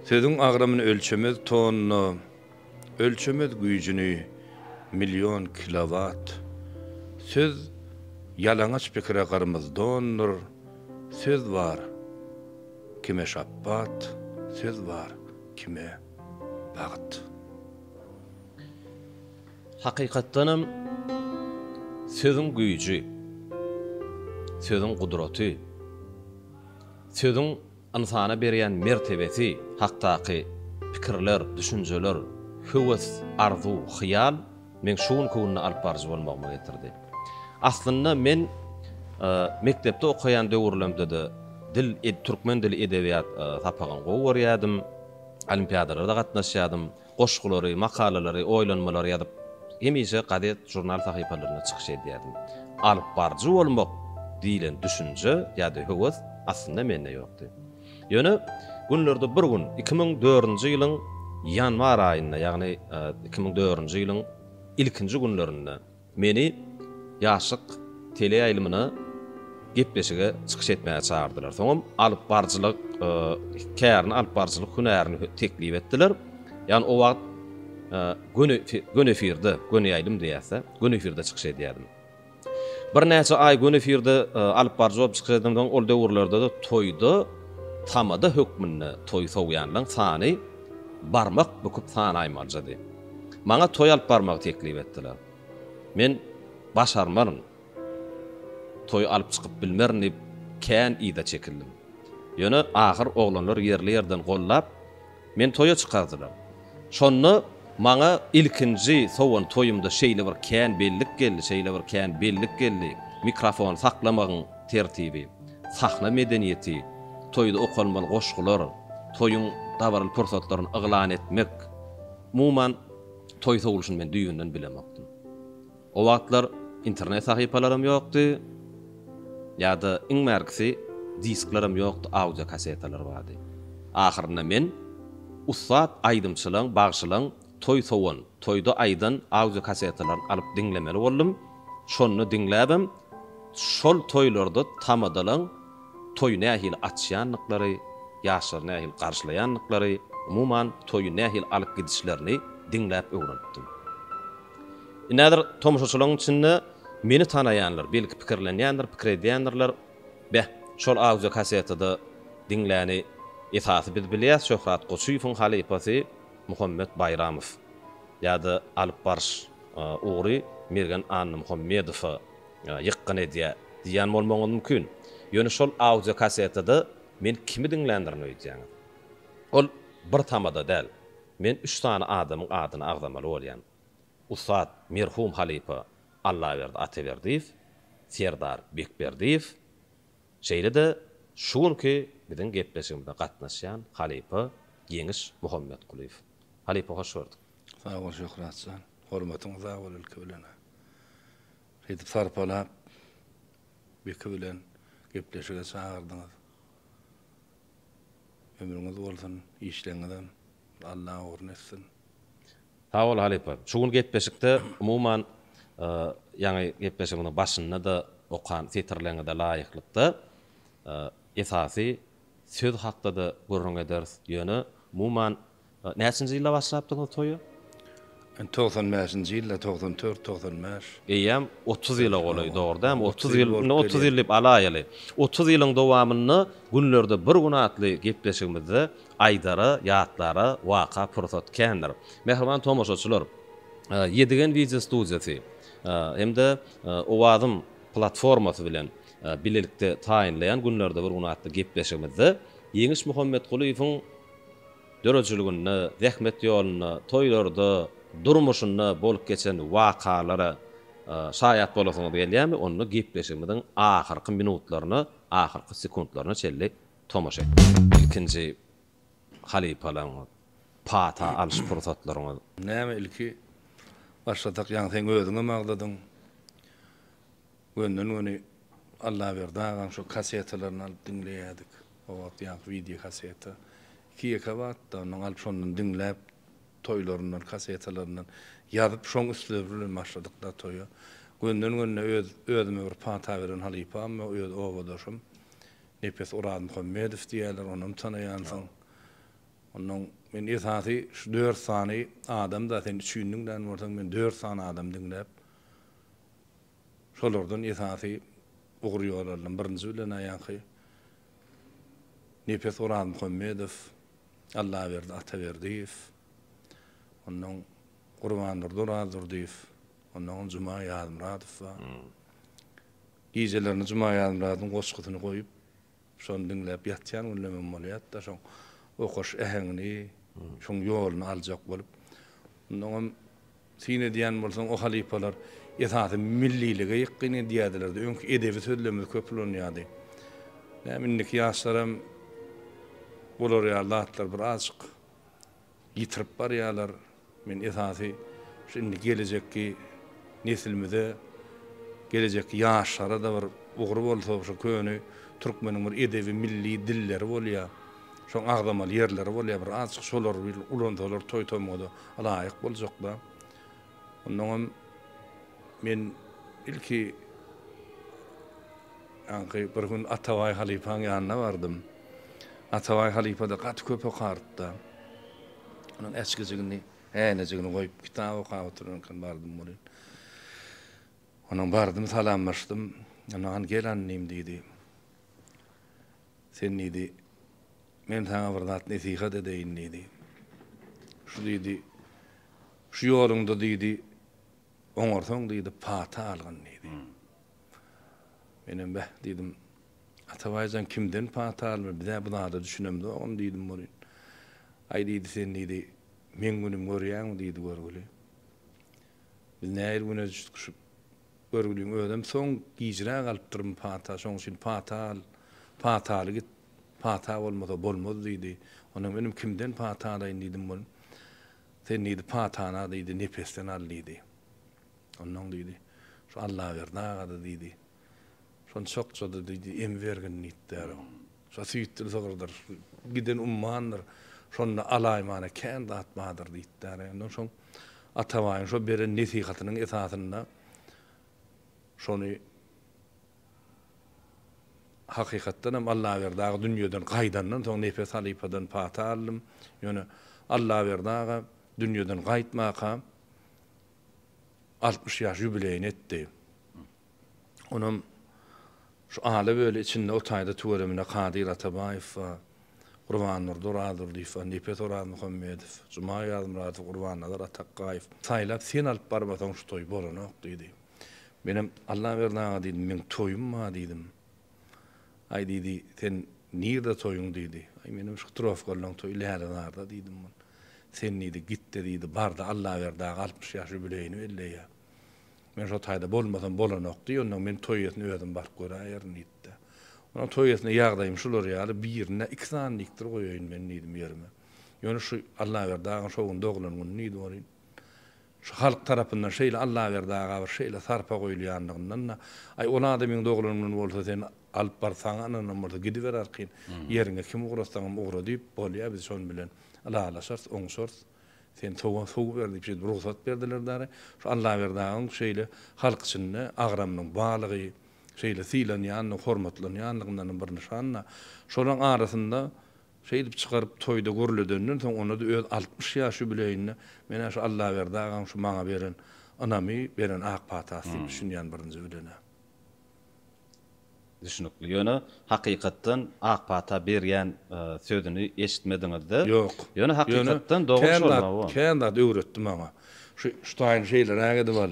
Sözüň agramyny ölçemez tonna, ölçemez güýjüni million kilowat. Söz ýalaňaç pikire gyrmyz dondyr, söz bar, kime şapbat, söz bar, kime bagt. Hakykatdanam, sözüň güýji, sözüň gudraty, sözüň ynsana berýän mertebesi hakdaky pikirler, düşünjeler, höwes, arzuw, hyýal meň şu günki günde alyp baryjy bolmagyma getirdi. Aslynda, men mekdepde okaýan döwürlerimde-de dil, türkmen dili, edebiýat sapagyny gowy görýärdim, olimpiadalara-da gatnaşýardym. Goşgulary, makalalary, oýlanmalary ýazyp, hemişe gazet, žurnal sahypalarynda çykyş edýärdim. Alypbaryjy bolmak diýlen düşünje ýa-da höwes aslynda mende ýokdy. Ýöne günlerde bir gün, iki müň dördünji ýylyň ýanwar aýynda, ýagny iki müň dördünji ýylyň ilkinji günlerinde, Meni Ýaşlyk teleýaýlymyna gepleşige çykyş etmäge çagyrdylar. Soňam alyp baryjylyk kärini, alyp baryjylyk hünärini teklip etdiler. Ýagny o wagt göni göni efirde, göni ýaýlym diýýäs-dä, göni efirde çykyş edýärdim. Birnäçe aý göni efirde alyp baryjy bolup çykyş edenden soň ol döwürlerde-de toýda tamada hökmünde toý sowýanlaryň sany barmak büküp sanaýmaljady. Maňa toý alyp barmagy teklip etdiler. Men başarmaryn, toý alyp çykyp bilmerin diýip, kän yza çekildim. Ýöne ahyr oglanlar ýerli-ýerden gollap, meni toýa çykardylar. Şonda maňa ilkinji sowan toýumda şeýle bir kän bellik geldi, şeýle bir kän bellik geldi, mikrofony saklamagyň tertibi. sahna medeniýeti, toýda okalmaly goşgular, toýuň dabaraly pursatlaryny yglan etmek, umuman, toý sowlusyny men düýbünden bilemokdym. O wagtlar internet sahypalaram ýokdy, ýa-da iň bärkisi disklaram ýokdy, audio-kassetalar bardy. Ahyrynda men ussat aýdymçylaň, bagşylaň Toý sowan, toýda aýdan audiokassetalaryny alyp diňlemeli boldum. Şonda diňläbem, şol toýlarda tamadalaň toýy nähili açýandyklary, ýaşlary nähili garşylaýandyklary, umuman, toýy nähili alyp gidişlerini diňläp öwrenipdim. Indi häzir tomaşaçylaryň içinde meni tanaýanlar, belki, pikirlenýändir, pikir edýändirler, Beh, şol audiokassetada diňläni esasy biz bilýäs, Şöhrat Goçuýewiň halypasy, Muhammet Baýramow ýa-da alyp baryş ugry Mergen Annamuhammedowa ýykgyn edýär diýýän bolmagyňyz mümkin. Ýöne şol audio kassetada men kimi diňländirin öýdýäňiz? Ol bir tamada däl. Men üç sany adamyň adyny agzamaly bolýan. Ussat merhum halypa Allaberdi Ataberdiýew, Serdar Bekberdiýew, Şeýle-de şu günki biziň gepleşigimize gatnaşýan halypa Ýeňiş Muhammetgulyýew. Halypa hoş gördük. Sag bol Şöhrat jan. Hormatyň uza bol ilki bilen-ä. Şeýdip sarpalap, Beki bilen gepleşige çagyrdyňyz. Ömrüňiz bolsun, işleňizem Alla ugurny etsin. Sag bol halypa. Şu gün gepleşikde umuman ýaňy gepleşigiňiziň başynda-da okan setirleriňize laýyklykda esasy söz hakda-da gürrüň ederis. Ýöne umuman Näçinji ýylda başlapdyňyz toýa? Togsan bäşinji ýylda, togsan dört, togsan bäş. Eýýäm otuz ýyla golaý, dogry dämi? Otuz ýyl, indi otuz ýyl diýip alaýaly. Otuz ýylyň dowamynda günlerde bir gün atly gepleşigimizde aýdara, ýatlara waka pursat kändir. Mähriban tomaşaçylar, Ýedigen wideo studiýasy hem-de Owazym platformasy bilen bilelikde taýynlaýan günlerde bir gün atly gepleşigimizde Ýeňiş Muhammetgulyýewiň, döredijiliginde, zähmet ýolunda, toýlarda, durmuşynda bolup geçen wakalara şaýat bolasyňyz gelýärmi, onda gepleşigimiziň ahyrky minutlaryna, ahyrky sekuntlaryna çenli tomaşa ediň. Ilkinji halypalaryňyz, pata alyş pursatlaryňyz? Näme ilki başlasak, ýaňy sen özüňem agzadyň. Gönden-göni Allaberdi agaň şo kasetalaryny alyp diňleýärdik. O wagt ýaňky wideo kaseta. Iki-ýeke wagtda ondan alyp şondan diňläp, toýlaryndan, kasetalaryndan ýazyp şoň üstleri bilen başladyk-da toýa. Gönden-gönde öz özüme bir pata beren halypam, öz obadaşym Nepes Orazmuhammedow diýýärler, onam tanaýansyň. Ondan men esasy şu dört sany adam-da sen üçindiň dän bolsaň, men dört sany adam diňläp, Şolardan esasy ugur ýollarynyň birinji bilen aýaňky Nepes Orazmuhammedow, Allaberdi Ataberdiýew, onnoň Gurbandurdy Orazdurdyýew, onnoňam Juma Ýazmyradow bar. Gijelerini Juma Ýazmyradyň goşgusyny goýup, Şony diňläp ýatýan günlemem bolýardy-da, şoň okaş äheňini, şoň ýoluny aljak bolup. Onnoň hem syn edýän bolsaň, o halypalar esasy millilige ýykgyn edýärdiler-de, öňki edebi sözlerimiz köp ulanýardy. Näme, indiki ýaşlaram bular ýaly zatlar bir azjyk. ýitirip barýarlar. Men esasy şu indi gelejekki neslimize, gelejekki ýaşlara-da bir ugur bolsa, şu köne türkmeniň bir edebi milli dilleri bolýar, şoň agzamaly ýerleri bolýar, bir azajyk şolary bir ulansalar toý-tomguda laýyk boljaklar. Onnoň hem men ilki ýaňky bir gün Atabaý halypaň ýanyna bardym. Atabaý halypa-da gaty köp okardy-da. Onuň äçgijigini, häýnejigini goýup, kitap okap oturan eken, bardym welin. Onam bardym, salamlaşdym. Ony, Hany, gel annym, diýdi. Sen, diýdi, men saňa bir zat nesihat edeýin, diýdi. Şu, diýdi, şu ýoluňda, diýdi, oňarsaň, diýdi, pata algyn, diýdi. Menem, Beh, diýdim. Atabaý jan kimden pata alynýar, biz-ä bu zada düşünemzogam, diýdim welin, Aý, diýdi, sen, diýdi, meň günüm görýäňmi, diýdi, görgüli. Biz nähili güne tutuşyp görgüliň özem soň gijräk alypdyrmy pata, şoň üçin pata al, pataly git, pata bolmasa bolmaz, diýdi. Onam inim kimden pata alaýyn, diýdim welin, Sen, diýdi, patany, diýdi, Nepesden al, diýdi. Ondan, diýdi, şu Allaberdi aga-da, diýdi. Şony çokjady, diýdi. Emi bergin diýipdir. Şo süýtdül sygyrdyr. Giden ummandyr. Şonda alaýmana kän zat bardyr, diýipdir. Ondan soň Atabaýyň şo beren nesihatynyň esasynda şony hakykatdan hem Allaberdi aga dünýeden gaýdandan soň Nepe halypadan pata aldym. Ýöne Allaberdi aga dünýeden gaýtmaka altmyş ýaş ýubileýini etdi. Onam şu ala böle içinde o taýda tüweleme Kadyr Atabaýew bar, Gurbandurdy Orazurdyýew bar, Nepes Orazmuhammedow, Juma Ýazmyradow, Gurbannazar Atakgaýew. Saýlap sen alyp barmasaň şu toý bolanok diýdi. Menem Allaberdi aga diýdim, meň toýum bar diýdim. Aý, diýdi, sen nirde toýuň, diýdi. Aý, menem şu Trofgolnyň toýy läre-zarda, diýdim men. Sen, diýdi, git-de, diýdi, bar-da, Allaberdi aga altmyş ýaş ýubileýini belleýä. Men şo taýda bolmasam bolanok, diý, onnoň men toý eýesine özüm baryp göräýerin, diýdi-de. Onuň toý eýesine ýagdaýym şular ýaly, birine iki sany dikdir goýaýyn men, diýdim ýerime. Ýöne şu Allaberdi agaň şo gün doglan güni, diýdi, bolýn. Şu halk tarapyndan şeýle Allaberdi aga bir şeýle sarpa goýulýandygyndan-da, Aý, ol adamyň doglan güni bolsa sen alyp bar, saňa ynanam bolsa gidiber arkaýyn, ýeriňe kim ugratsaňam ugra diýip, bolýa biz şonuň bilen ylalaşarys, oňşarys. Sen sowa sow ber diýip şeýdip rugsat berdiler däri. Şu Allaberdi agaň şeýle halk içinde agramynyň balygy, şeýle sylanýandygy, hormatlanýandygyndanam bir nyşan-da. Şolaryň arasynda Şeýdip çykaryp toýda gürledenden soň onda-da öz altmyş ýaş ýubileýinde men-ä şu Allaberdi agaň şu maňa beren ynamy, beren ak patasy diýip düşünýän birinji bilen-ä. Düşnükli. Ýöne hakykatdan ak pata berýän sözüni eşitmediňiz-de. Ýok. Ýöne hakykatdan dogry şolmy bu? Kän zat öwretdi maňa. Şu şutaýyny şeýleräk edip al.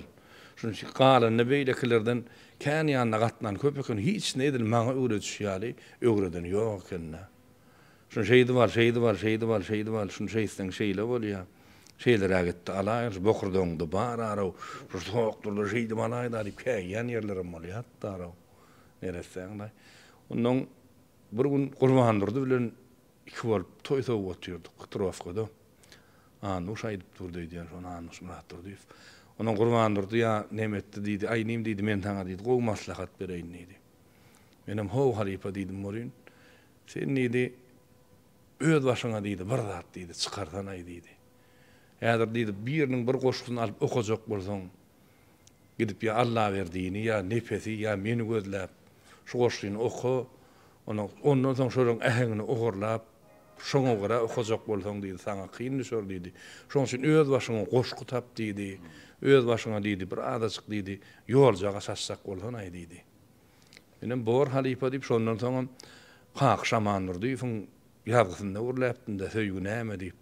Şunuň üçin galanyny beýlekilerden kän ýanyna gatnan köp eken, hiç ne edil maňa öwrediş ýaly öwreden ýok eken-dä. Şuny şeýdip al, şeýdip al, şeýdip al, şeýdip al, şuny şeýtseň şeýle bolýa, şeýleräk etdi alaýyn, şu bokurdagyňda bar-araw, şu sokdurda şeýdip alaýda diýip käýýän ýerlerem bolýardy-da-araw. Neressäň-laý. Onnoň bir gün Gurbandurdy bilen Iki bolup toý sowuk otyrdyk Petrowkada. Annuş aýdyp durdy öýdýän şony Annuş Myratdurdyýew. Onam Gurbandurdy ýa neme etdi diýdi. Aý inim diýdi men saňa diýdi gowy maslahat bereýin diýdi. Menem how halypa diýdim bolýyn. Sen diýdi öz başyňa diýdi bir zat diýdi çykarsanaý diýdi. Häzir diýdi biriniň bir goşgysyny alyp okajak bolsaň Gidip ýa Allaberdini ýa Nepesi ýa meni gözläp şu goşgyny oka, ondan ondan soň şolaryň äheňini ogurlap, şoňa görä okajak bolsaň diýdi, saňa kyn düşer diýdi. Şoň üçin öz başyňa goşgy tap diýdi. Öz başyňa diýdi, bir azajyk diýdi, ýoljaga çaşjak bolsanaý diýdi. Menem bor halypa diýip, şondan soňam Kaky Şamandurdyýewiň ýazgysynda gürläpdim-de, Söýgi näme diýip.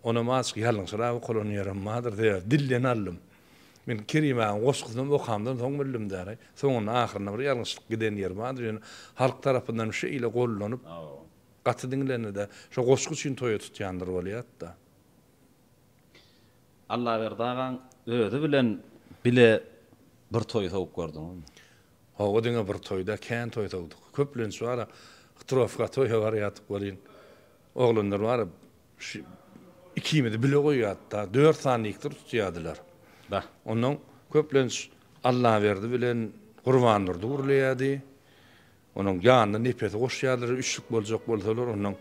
Onam azjyk ýalňyşyrap okalan ýerim bardyr sebäbi dilden aldym. Men Kerim agaň goşgusynam okamdan soň bildim däri. Soňunda ahyrynda bir ýalňyşlyk giden ýeri bardyr ýöne halk tarapyndanm şeýle gollanyp gaty diňlenide şo goşgy üçin toýa tutýandyr bolýatda. Allaberdi agaň özi bilen bile bir toý sowup gördüňizmi? Hawa diňe bir toý däl kän toý sowduk. Köplenç bara hytrowka toýa barýardyk welin oglanlar bara Şu ikimizi bile goýýardy-da, dört sany diktor tutýardylar. Ondan köplenç Allaberdi bilen Gurbandurdy gürleýärdi. Onuň ýanyna Nepesi goşýardylar, üçlük boljak bolsalar, ondan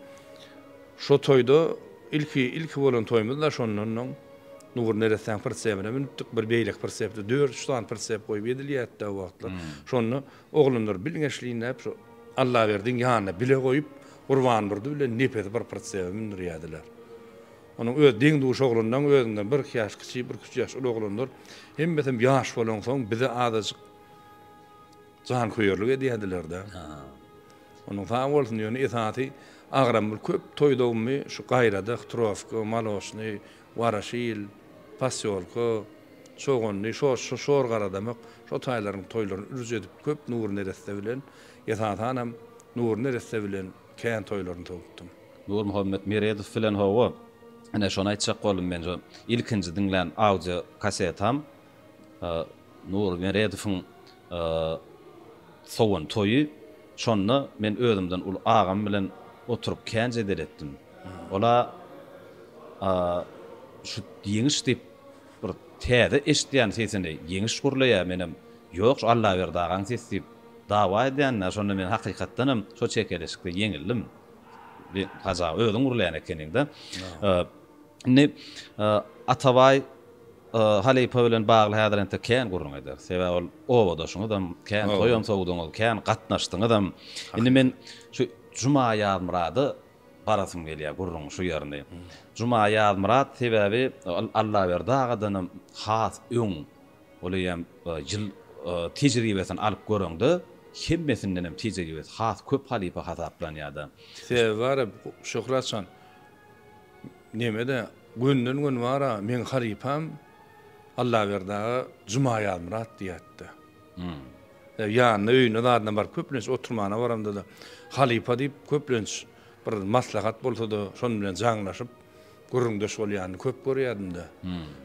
şo toýda ilki, ilki bolan toýumyz-da şondan oň Nury neressäň pritsebine münüpdik, bir beýleki pritsepde dört, üç sany pritsep goýup edilýärdi-de o wagtlar. Şonda Oglanlar bilgeşliginläp şu Allaberdiň ýanyna bile goýup, Gurbandurdy bilen Nepesi bir pritsebe mündürýärdiler. Onuň öz deň-duş oglanlaň özünden birki ýaş kiçi, birküç ýaş uly oglanlar hemmesem ýaş bolansoň bize azajyk janköýerlik edýärdiler-dä. Onuň sag bolsun, ýöne esasy agramly köp toý dowmy şu gaýradak, trofka, maloçnyý, Waraşil, Posýolka, Çoganly, Şorşa, Şorgaradamak şo taýlaryň toýlaryny ürüj edip köp Nurneresse bilen, esasanam Nurneresse bilen kän toýlaryny towupdym. Nurmuhammet Meredow bilen hawa, ine şony aýtjak boldum men şo ilkinji diňlän audio kasetam Nury Meredowyň sowan toýy. Şonda men özümden uly agam bilen oturyp kän jedel etdim. Ol-a şu Ýeňiş diýip bir täze eşidýän sesini, Ýeňiş gürleýär, menem Ýok, şu Allaberdi agaň sesi diýip dawa edýänine, şonda men hakykatdan hem şo çekeleşikde ýeňildim. Hajy aga, özüň gürleýän ekeniň-dä. Indi Atabaý halypa bilen bagly häzir entek kän gürrüň ederis. Sebäbi ol obadaşyňyzam, kän toýam sowduňyz, kän gatnaşdyňyzam. Indi men şu Juma Ýazmyrada barasym gelýär gürrüňiň şu ýerini. Juma Ýazmyrat sebäbi Allaberdi agadanam has öň, ol eýýäm ýyl tejribesini alyp göreňde, hemmesindenem tejribesi has köp halypa hasaplanýar-da. Sebäbi bar-a, Şöhratjan, Nämede, gönden-göni bar-a, meň halypam Allaberdi aga Juma Ýazmyrat diýýärdi. Ýanyna, öýüne zadyna baryp, köplenç oturmana baramda-da, halypa diýip, köplenç bir maslahat bolsa-da, şonuň bilen jaňlaşyp, gürrüňdeş bolýanyny köp görýärdim-de.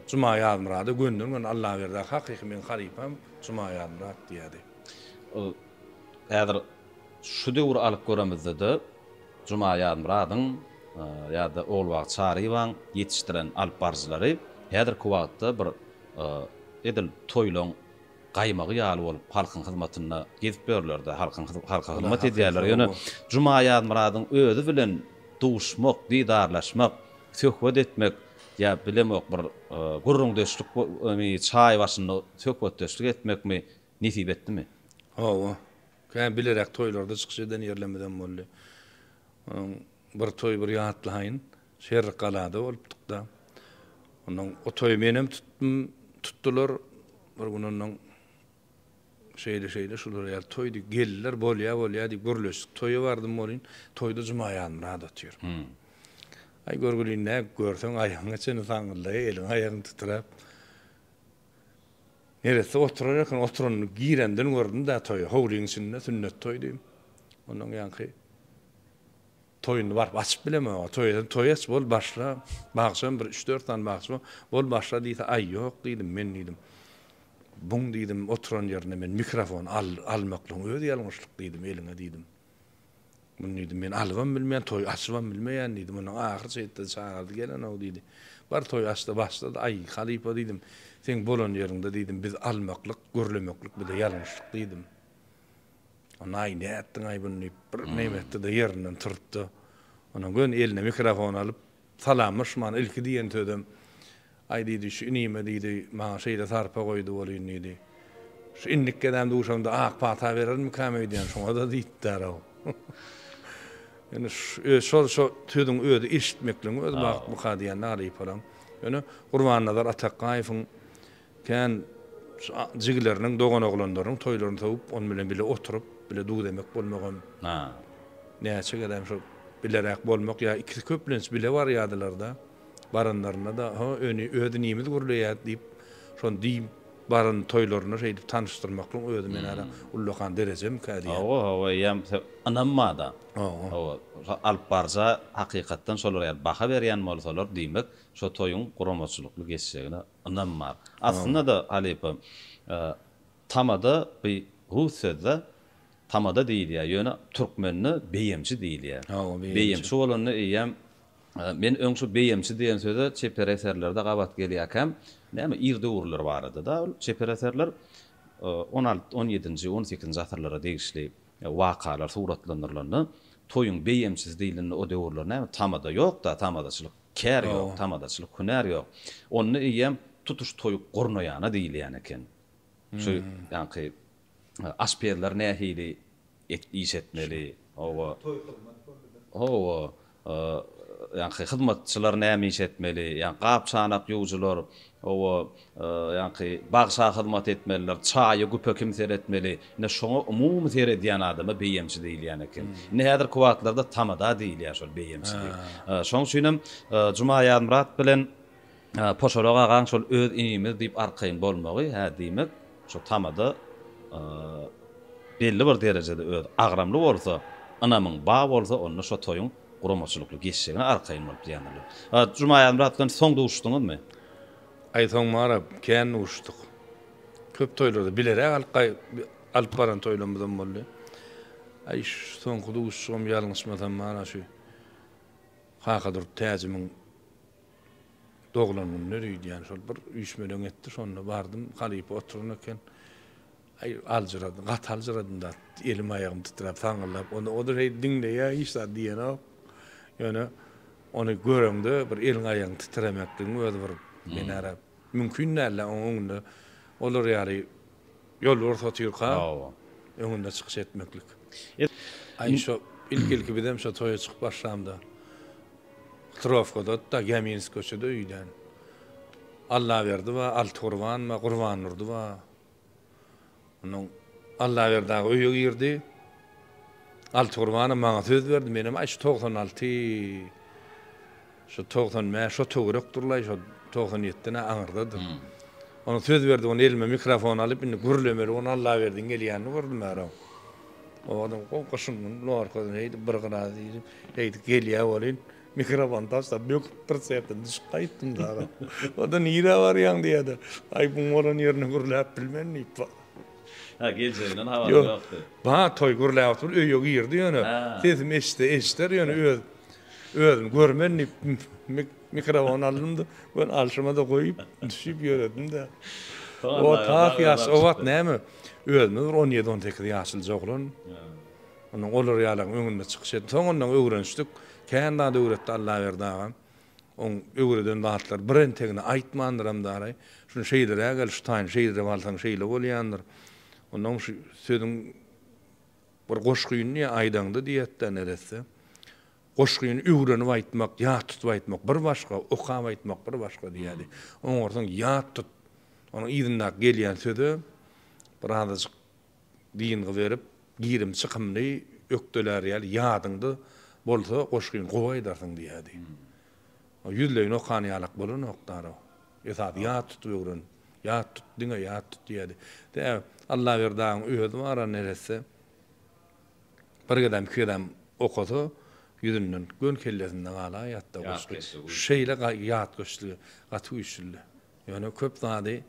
Juma Ýazmyrada gönden-göni Allaberdi aga hakyky meň halypam Juma Ýazmyrat diýýärdi. Ol häzir. Şu döwür alyp göremizde-de Juma Ýazmyradyň ýa-da Ogulbagt Çaryýewaň ýetişdiren alyp baryjylary häzirki wagtda bir edil toýlaň gaýmagy ýaly bolup halkyň hyzmatynda gezip ýörler-de, halkyň halka hyzmat edýärler. Ýöne Juma Ýazmyradyň özi bilen duşmak, didarlaşmak, söhbet etmek ýa bilemok bir gürrüňdeşlikmi, çaý başynda söhbetdeşlik etmekmi, Nesip etdimi? Hawa. Kä bileräk toýlarda çykyş eden ýerlerimizem boldy. Onuň bir toýy bir ýatlaýyn. Şerikgalada bolupdyk-da. Onnoň o toýy menem tutdum, tutdular. Bir gün onnoň şeýle-şeýle şular ýaly toýdy. Geldiler, bolýa, bolýa diýip gürleşdik. Toýa bardym welin, toýda Juma Ýazmyrat otyr. Aý, görgülin-dä, görseň aýagyňa çenli saňňyldaýa, eliň-aýagyň titrap. Neresse oturar eken, oturanyny girenden gördüm-dä toýa, howlyň içinde sünnet toýdy. Ondan ýaňky toýuny baryp açyp bilemok-a, toý edeni toý aç, bol başla, bagşam bir üç-dört sany bagşy bar, bol başla diýse, aý ýok diýdim, men diýdim, buň diýdim, oturan ýerinde men mikrofon almaklygyň özi ýalňyşlyk diýdim, eliňe diýdim. Muny diýdim, men alybam bilmeýän, toý açybam bilmeýän diýdim. Onda ahyr çeýtde çagyrdy gelen-ow diýdi. Bar toý aç-da başla-da. Aý, halypa diýdim, seň bolan ýeriňde diýdim, biz almaklyk, gürlemeklik bize ýalňyşdyk diýdim. Onda aý, nätdiň-aý buny diýip, bir nem etdi-de, ýerinden turtdy. Ondan göni eline mikrofon alyp, Salamlaşman ilki diýen sözem, Aý, diýdi, şu inime, diýdi, maňa şeýle sarpa goýdy bolýyn, diýdi. Şu indik gezem duşamda ak pata berermikäm öýdýän, şoňa-da diýipdir-ow. Ýöne öz şol şo sözüň özi eşitmekligiň özi bagtmyka diýen Aryp olam. Ýöne Gurbannazar Atakgaýewiň Kän jigileriniň, doganoglanlarynyň toýlaryny sowup, onuň bilen bile oturyp, bile duz-emek bolmagam, näçe gezegem şol bileräk bolmak ýa ikisi köplenç bile barýardylar-da. Baranlarynda-da, Ho, öni öz inimiz gürleýär diýip, şony diýip, baran toýlaryna şeýdip tanyşdyrmaklygyň özi men hälä ullakan derejemikä diýýän. Hawa, hawa, eýýäm ynanma-da. Hawa. Hawa, şo alyp baryja hakykatdan şolar ýaly baha berýän bolsalar, diýmek, şo toýuň guramaçylykly geçjegine Ynam bar. Aslynda-da, halypa, tamada bu rus söz-dä. Tamada diýilýär, ýöne türkmende beýemçi diýilýär. Beýemçi bolanda eýýäm, men öň şu beýemçi diýen söze çeper eserlerde gabat gelýärkäm, näme, ir döwürler barada-da ol çeper eserler, on alty, on ýedinji, on sekizinji asyrlara degişli wakalar suratlandyrylanda, toýuň beýemçisi diýilende o döwürler näme, tamada ýok-da, tamadaçylyk. Kär ýok, tamadaçylyk, hünär ýok. Onda eýýäm tutuş toý gurnaýana diýilýän eken. Şu ýaňky aşpezler nähili iş etmeli, hawa. Toý hyzmat boldy-da. Hawa, ýaňky hyzmatçylar näme iş etmeli, ýa gap-çanak ýuwujylar, Hawa, ýaňky bagşa hyzmat etmeliler, çaýa güpe kim seretmeli? Ine şoňa umumy seredýän adama beýemçi diýilýän eken. Indi häzirki wagtlarda tamada diýilýär şol beýemçi diýip. Şoň üçinem Jumaýazmyrat bilen Poşarak agaň şol öz inimiz diýip arkaýyn bolmagy, hä diýmek, şu tamada belli bir derejede özi agramly bolsa, ynamyň bar bolsa, onda şo toýuň Guramaçylykly geçjegine arkaýyn bolup diýendirler. A Jumaýazmy Rahat bilen soň duşuşdyňyzmy? Aý soň Mara kän duşuşdyk. Köp toýlarda bileräk alyp alyp baran toýlarymyzam boldy. Aý şu soňky duşuşygym ýalňyşmasam Mara şu Kakadurdy Täjimiň doglan gününe öýdýän şol bir üýşmeleň etdi şonda bardym halypa oturan eken. Aý, aljyradym, gaty aljyradym zat. Elim-aýagym titräp, saňňyldap, onda o-da şeýdip diňleýär, hiç zat diýenok. Ýöne ony göreňde bir eliň-aýagyň titremekligiň özi bir binara mümkin däl-ä, oň öňünde olar ýaly ýolbars otyrka, öňünde çykyş etmeklik. Aý, şo ilki-ilki bizem şo toýa çykyp başlamda, Huturowkada-da, Gäminsk köçede öýdän Allaberdi bar, Altygurban bar, Gurbandurdy bar. Ondan Allaberdi aga öýe girdi. Altygurbanow maňa söz berdi. Menem aý şu togsan alty, şu togsan bäş şo töwerekdirlaý, şo togsan ýetiden-ä aňyrdadyr. Ondan söz berdi, ony elime mikrofon alyp, indi gürlemeli bolup Allaberdiň gelýänini gördüm ärem. Owadan gowy gyşyň güni lorkadan heýdip bir gyrazy iýip, heýdip gelýä welin, Mikrofony taşlap böküp bir serte düşüp gaýtdym dagy. Onda nirä barýaň diýýärdi. Aý buň bolan ýerine gürläp bilmen diýip. Hä geljeginden habaryň ýokdy. Ba toý gürläp oturyp öýe girdi ýöne sesimi eşitse eşider ýöne öz özüm görmen diýip mikrofony aldymda göni alşyma-da goýup düşüp ýöredimdä. O tas ýaş o wagt näme özüme bir on ýedi on sekiz ýaşlyja oglan. Ondan olar ýalaň öňünde çykyş etdim. Soň ondan öwrenişdik. Kän zat öwretdi Allaberdi agam. Oň öwreden zatlary bir entegini aýtmandyram daraý. Şuny şeýleräk el, şu taýyny şeýledip alsaň şeýle bolýandyr. Ondan şu sözüň bir goşgyny diýýär, aýdaňda diýýärdi-de neresse. Goşgyny öwrenip aýtmak, ýat tutup aýtmak bir başga, okap aýtmak bir başga diýýärdi. Oňarsaň ýat tut. Onuň yzyndaky gelýän söze birazajyk Dyngy berip, girim-çykymly ökdelär ýaly ýadyňda bolsa goşgyny gowy aýdarsyň diýýärdi. Ýüzleýin okan ýalak bolanokdar-ow. Esasy ýat tutup öwren, ýat tut, diňe ýat tut diýýärdi. Tä Allaberdyň özi bar-a neresse, bir gezem, iki gezem okasa, ýüzünden, göni kellesinde galaýýardy-da goşgy. Şeýle ýatkeşligi gaty güýçlüdi. Ýöne köp zady,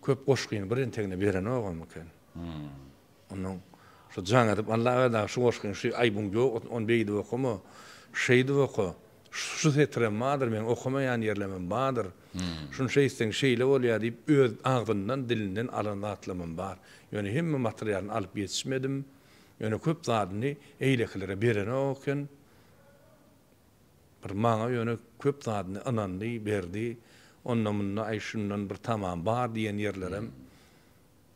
köp goşgyny bir entegine berenogam eken. Onuň şu jaň edip, Allaberdi-ä şu goşgyny, şu aýbyň ýok, ony beýdip okama, şeýdip oka, şu setirem bardyr, meň okamaýan ýerlemem bardyr, şuny şeýtseň şeýle bolýar diýip, öz agzyndan, dilinden alan zatlamam bar. Ýöne hemme materialyny alyp ýetişmedim. Ýöne köp zadyny eýlekilere berenok eken. Bir maňa ýöne köp zadyny ynandy, berdi. Onda-munda, aý, şundan bir tamam bar diýen ýerlerem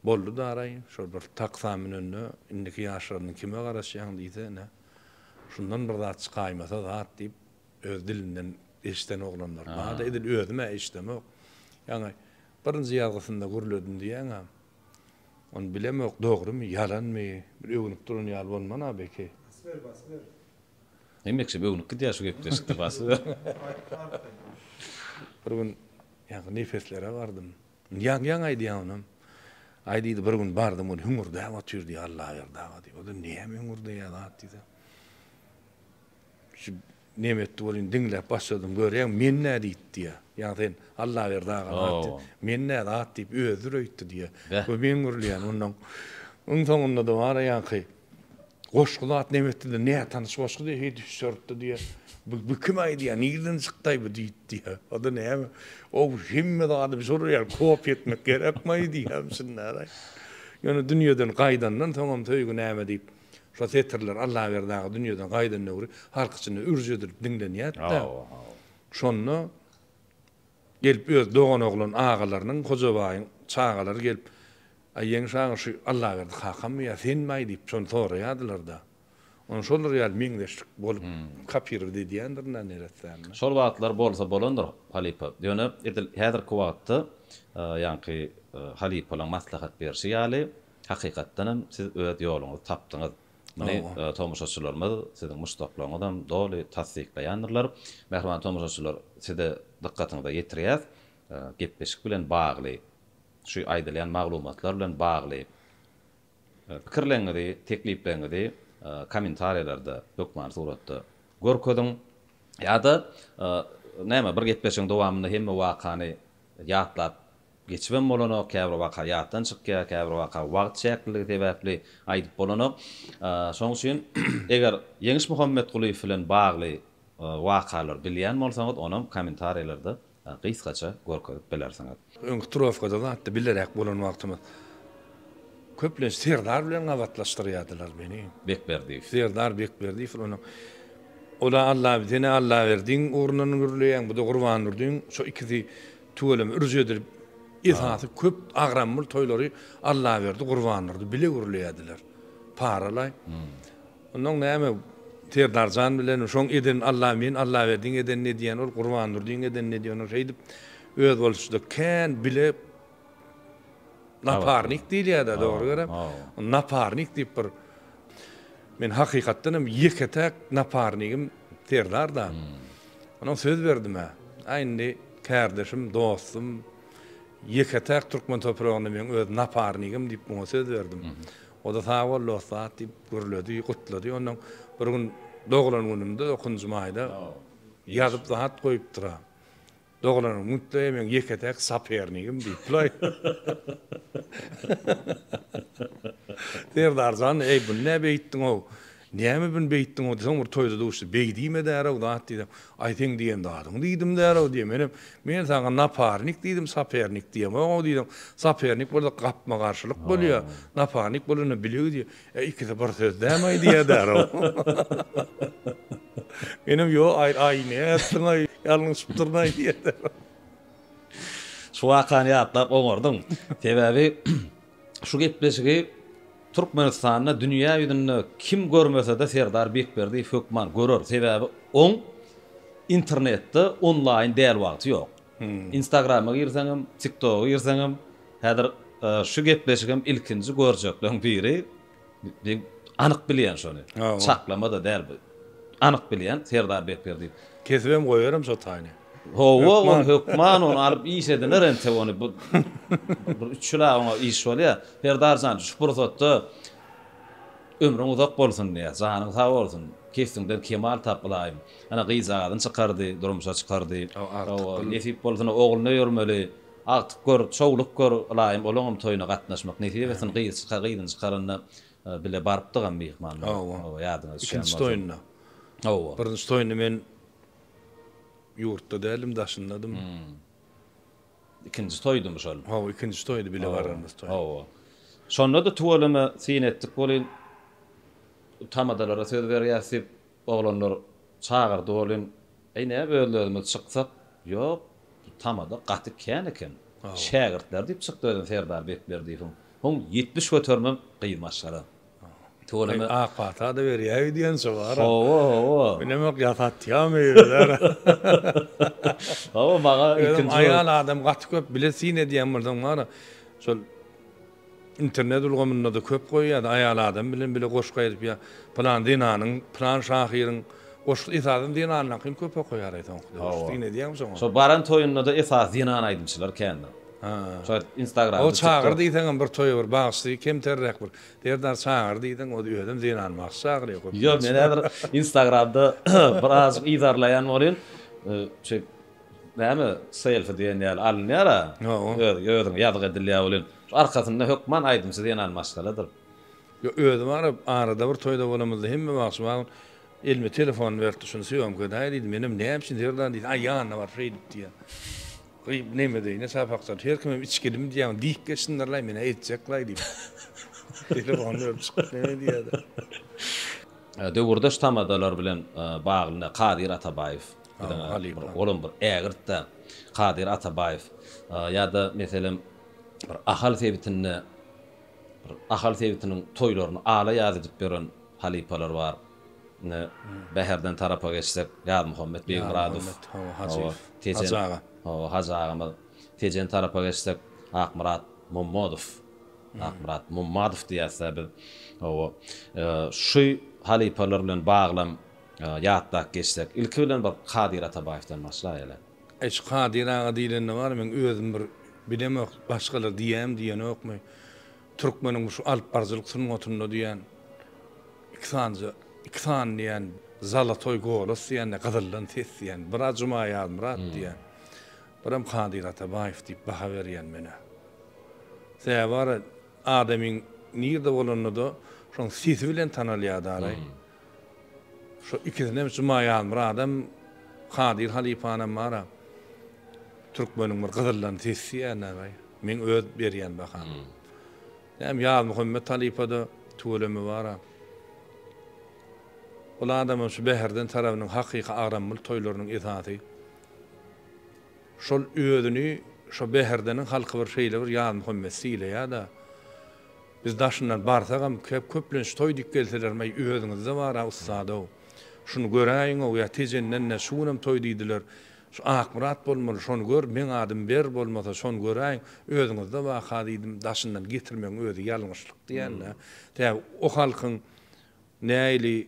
boldy-daraý. Şol bir taksa münende, Indiki ýaşlaryňdan kime garaşýaň? diýse, ine, şundan bir zat çykaýmasa zat diýip, öz dilinden eşden oglanlar bar-da. Edil özüm-ä eşdemok. Ýaňy birinji ýazgysynda gürledim diýýäň-ä. Ony bilemok, dogrymy, ýalanmy? Bir öwünip duran ýaly bolman-a beki. Basber, basber. Hemekşe böwnüp gidýär şu gepleşikde basy. Bir gün ýaňky nepeslere bardym. Ýaňy ýaňy aýdýan onam. Aý diýdi bir gün bardym ol hüňürdäp otyr diýdi Allaberdi aga diýdi. Ol näme hüňürdeýä zat diýdi. Şu näme etdi bolýun diňläp başladym görýäň men nä diýdi diýä. Ýaňy sen Allaberdi aga zat diýdi. Men nä zat diýip özüdir öýtdi diýä. Bu men gürleýän ondan. Iň soňunda-da bar ýaňky. Goşgy zat nebetdide nätanyş goşgy diýe heý düşeripdi diýe. Bu bu kim aýdýa nirden çykdaý bu diýip diýe. Oda näme o hemme zady bir soraýar kopýa etmek gerekmaý diýe şundaýraý. Ýöne dünýeden gaýdandan soňam söýgi näme diýip şo setirler Allaberdi aga dünýeden gaýdan döwri halk içinde ürç edilip diňlenýärdi-de. Şonda gelip öz doganoglan agalarynyň Hojabaýyň çagalary gelip Aý Ýeňiş aga şu Allaberdi kakamy ýa senmi-aý diýip şony soraýardylar-da. Ony şolar ýaly meňzeşlik bolup kapirovat edýändirin-dä neressämmi. Şol wagtlar bolsa bolandyr halypa. Ýöne edil häzirki wagtda ýaňky halypalaň maslahat berşi ýaly hakykatdan hem siz öz ýoluňyzy tapdyňyz. Muny tomaşaçylarymyz, siziň muşdaklaryňyzam doly tassyklaýandyrlar. Mähriban tomaşaçylar size dykgatyňyza ýetirýäs, gepleşik bilen bagly Şu aýdylýan maglumatlar bilen bagly pikirleriňizi, teklipleriňizi kommentariýalarda hökmany suratda görkeziň. Ýa-da näme bir gepleşigiň dowamynda hemme wakany ýatlap geçibem bolanok, käbir waka ýatdan çykýar, käbir waka wagt çäkliligi sebäpli aýdyp bolanok. Şonuň üçin eger Ýeňiş Muhammetgulyýew bilen bagly wakalary bilýän bolsaňyz onam kommentariýalarda Gysgaça görkezip bilersiňiz. Öňki trofkada zatda bileräk bolan wagtymyz köplenç Serdar bilen gabatlaşdyrýardylar meni. Bekberdiýew. Serdar Bekberdiýew onuň Ol-a Allabi sen-ä Allaberdiň ugrundan gürleýäň, bu-da Gurbandurdyň şo ikisi tüweleme ürüji edilip esasy köp agramly toýlary Allaberdi Gurbandurdy bile gürleýärdiler. Paralaý. Onnoň näme Serdarjan bilen şoň eden Allamin Allaberdiň edenini edýän ol Gurbandurdyň edenini edýän ol şeýdip özboluşda kän bile naparnik diýilýärda dogry gerek naparnik diýip bir men hakykatdan hem ýeke täk naparnigim Serdarda onoň söz berdimä a indi kärdeşim dostum ýeke täk türkmen topragynda meň öz naparnigim diýip muňa söz berdim O-da sag bol, dostat! diýip gürledi, gutlady. Onnoň bir gün doglan gününde, dokuzynjy maýda ýazyp hat goýupdyr-a. Doglan günde-de meň ýeke-täk sapernigim diýipdir-oý. Serdar jan, eý, bu nä beýtdiň-ow? Näme bün beýtdiň o diýseň bir toýda duşdy. Beý diýme därew zat diýseň. Aý seň diýen zadyňy diýdim därew diýýä. Menem Men saňa naparnik diýdim sapernik diýemog-ow diýseň. Sapernik bolsa gapma-garşylyk bolýa. Naparnik bolanda bile gidýä. Ä ikisi bir söz däm-aý diýýä därew. Menem Ýo aý aý nätdiň-aý ýalňyşypdyryn-aý diýýä därew. Şu wakany ýatlap oňardyň. Sebäbi Şu gepleşigi Türkmenistanda dünýä ýüzünde kim görmesede Serdar Bekberdiýew hökman görer sebäbi oň internetde onlaýyn däl wagty ýok. Instagrama girseňem, tiktoga girseňem häzir şu gepleşigem ilkinji görjekleň biri Men anyk bilýän şony. Çaklama-da däl bu. Anyk bilýän Serdar Bekler diýip. Kesibem goýarym şo taýyny. Hawa, ony hökman ony alyp iş ediler entek ony. Bu bir üç ýyla oňa iş bolýar. Serdar jan, şu pursatda ömrüň uzak bolsun diýýäs, janyň sag bolsun, kesbiňden kemal tap ylaýym. Ana gyzjagazyny çykardy, durmuşa çykardy. Hawa, nesip bolsa ine ogluna öýermeli. Agtyk gör, çowluk gör, ylaýym olaňam toýuna gatnaşmak nesip etsin, gyz çyka, gyzyny çykaranda bile barypdygam myhmanlar, hawa, ýadyňa düşýän bolsa. Ikinji toýunda. Hawa. Birinji toýunda men ýurtda däldim, daşyndadym. Ikinji toýdumy şol? Hawa, ikinji toýdy, bile baranymyz toý. Hawa. Şonda-da tüweleme syn etdik welin, tamadalara söz berýäs diýip, Oglanlar çagyrdy welin, Eý, näme özlezimiz çyksak? Ýok, bu tamada gaty kän eken. Şägirtler diýip çykdy özem Serdar Bekberdiýewiň. Soň ýetmiş göterimem gyz maşgala. Tüweleme. Ak pata-da berýäý diýençä bar-a. Hawa, hawa. Bilemok ýasatýarmy özler. Hawa, maňa ilkinji. Özem aýal adam gaty köp bile syn edýän bolsaň bar-a, şol. Internet ulgamynda-da köp goýýar-da, aýal adam bilen bile goşgy aýdyp ýa pylan zenanyň, pylan şahyryň goşgy, esasan zenanyňkyny köp okaýar-aý soňky döwür. Hawa. Diýen edýäňmi şoňa? Şol baran toýunda-da esasy zenan aýdymçylar kändir. Ha. Şo Instagramda, O çagyr TikTok. diýseňem bir toýa bir bagşy kemterräk bir Serdar çagyr diýseň o özem zenan bagşy çagyrýar köplenç. Ýok men häzir Instagramda birazajyk yzarlaýan bolýan. Şeýt Näme selfi diýen ýaly alynýar-a, özüňe ýazgy edilýär welin, şu arkasynda hökman aýdymçy zenan maşgaladyr. Ýok, özi baryp, arada bir toýda bolamyzda hemme wagt şu bagyň elime telefonyny beripdi, şuny sýomka edaý diýdi, menem näme üçin Zerdan diýdim, aý ýanyna baryp şeýdip diýýär. Gyz bu neme deý, näçe apak çalyp, her kimem içgilim diýýär, diýip geçsindirlaý, men-ä etjek-laý diýip, telefony berip çykyp neme diýýär-de. Döwürdeş tamadalar bilen bagly Kadyr Atabaýew. Olam bir ägirt-de Kadyr Atabaýew ýa-da meselem bir Ahal sebitinde bir Ahal sebitiniň toýlaryny ala ýazydyp ýören halypalar bar. Indi Bäherden tarapa geçsek, Ýazmuhammet Begmyradow, Tejen hawa, Hajy agamyz. Tejen tarapa geçsek, Akmyrat Mommadow, Akmyrat Mommadow diýýäs-dä biz. Hawa, şu halypalar bilen baglam Ýatlap geçsek, ilki bilen bir Kadyr Atabaýewden başlaýaly. Eş, Kadyr aga diýlende bar, meň özüm bir bilemok, başgalar diýýämi, diýenokmy, türkmeniň şu alypbaryjylyk sungatynda diýýän, iki sanja, iki sany diýýän, zalotoý golos diýýän-de, gyzyldan ses diýýän, biri-ä Juma Ýazmyrat diýýän, birem Kadyr Atabaýew diýip baha berýän men-ä. Sebäbi bar, adamyň nirde bolanda-da, şoň sesi bilen tanalýar-da araý. Şu ikisinem şu Maýazmyradam Kadyr halypanam bara türkmeniň bir gyzyldan ses diýýänäbäý. Meň öz berýän baham. Näm Ýazmuhammet halypada tüweleme bara. Ol adamam şu Bäherden tarabynyň hakyky agramyl toýlarynyň esasy. Şol özüni şo Bäherdeniň halky bir şeýle bir Ýazmuhammet sylaýada Biz daşyndan barsagam kep köplenç toý diýip gelselerem eý özüňizde bara ussadow şuny göräýiňow ýa tejendende şu günem toý diýdiler şu Akmyrat bolmaly şony gör meň adym ber bolmasa şony göräýiň özüňizde baka diýdim daşyndan getirmegiň özi ýalňyşlyk diýändä tä o halkyň näili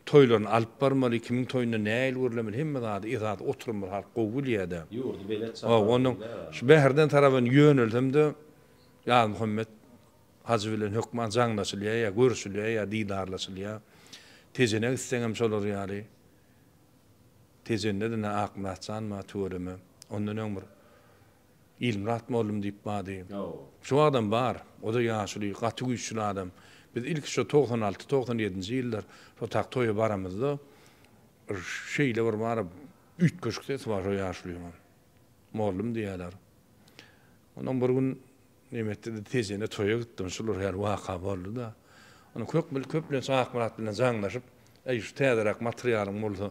Toýlaryny alyp barmaly kimiň toýunda nähili gürlemeli hemme zady yzat oturymyz halk gowy bilýädä. Ýurdy belet çapar diýler. Şu Bäherden tarabyn ýönelsemde Ýazmuhammet Hajy bilen hökman jaňlaşylýa ýa görüşilýä ýa didarlaşylýa. Tejene gitseňem şolar ýaly. Tejende-de nä Akmyratjan bar tüweleme. Ondan öň bir Ilmyrat mollum diýip bady. Şu wagtam bar. O-da ýaşuly, gaty güýçli adam. Biz ilki şo togsan alty, togsan ýedinji ýyllar şo tak toýa baramyzda şeýle bir bar, üýtgeşik sesi bar şo ýaşulynyň. Mollum diýýärler. Onam bir gün neme etdi-de, Tejene toýa gitdim. Şular her waka boldy-da. Onam köpmül, köplenç Akmyrat bilen jaňlaşyp, Äý, şu täzeräk materialyň bolsa,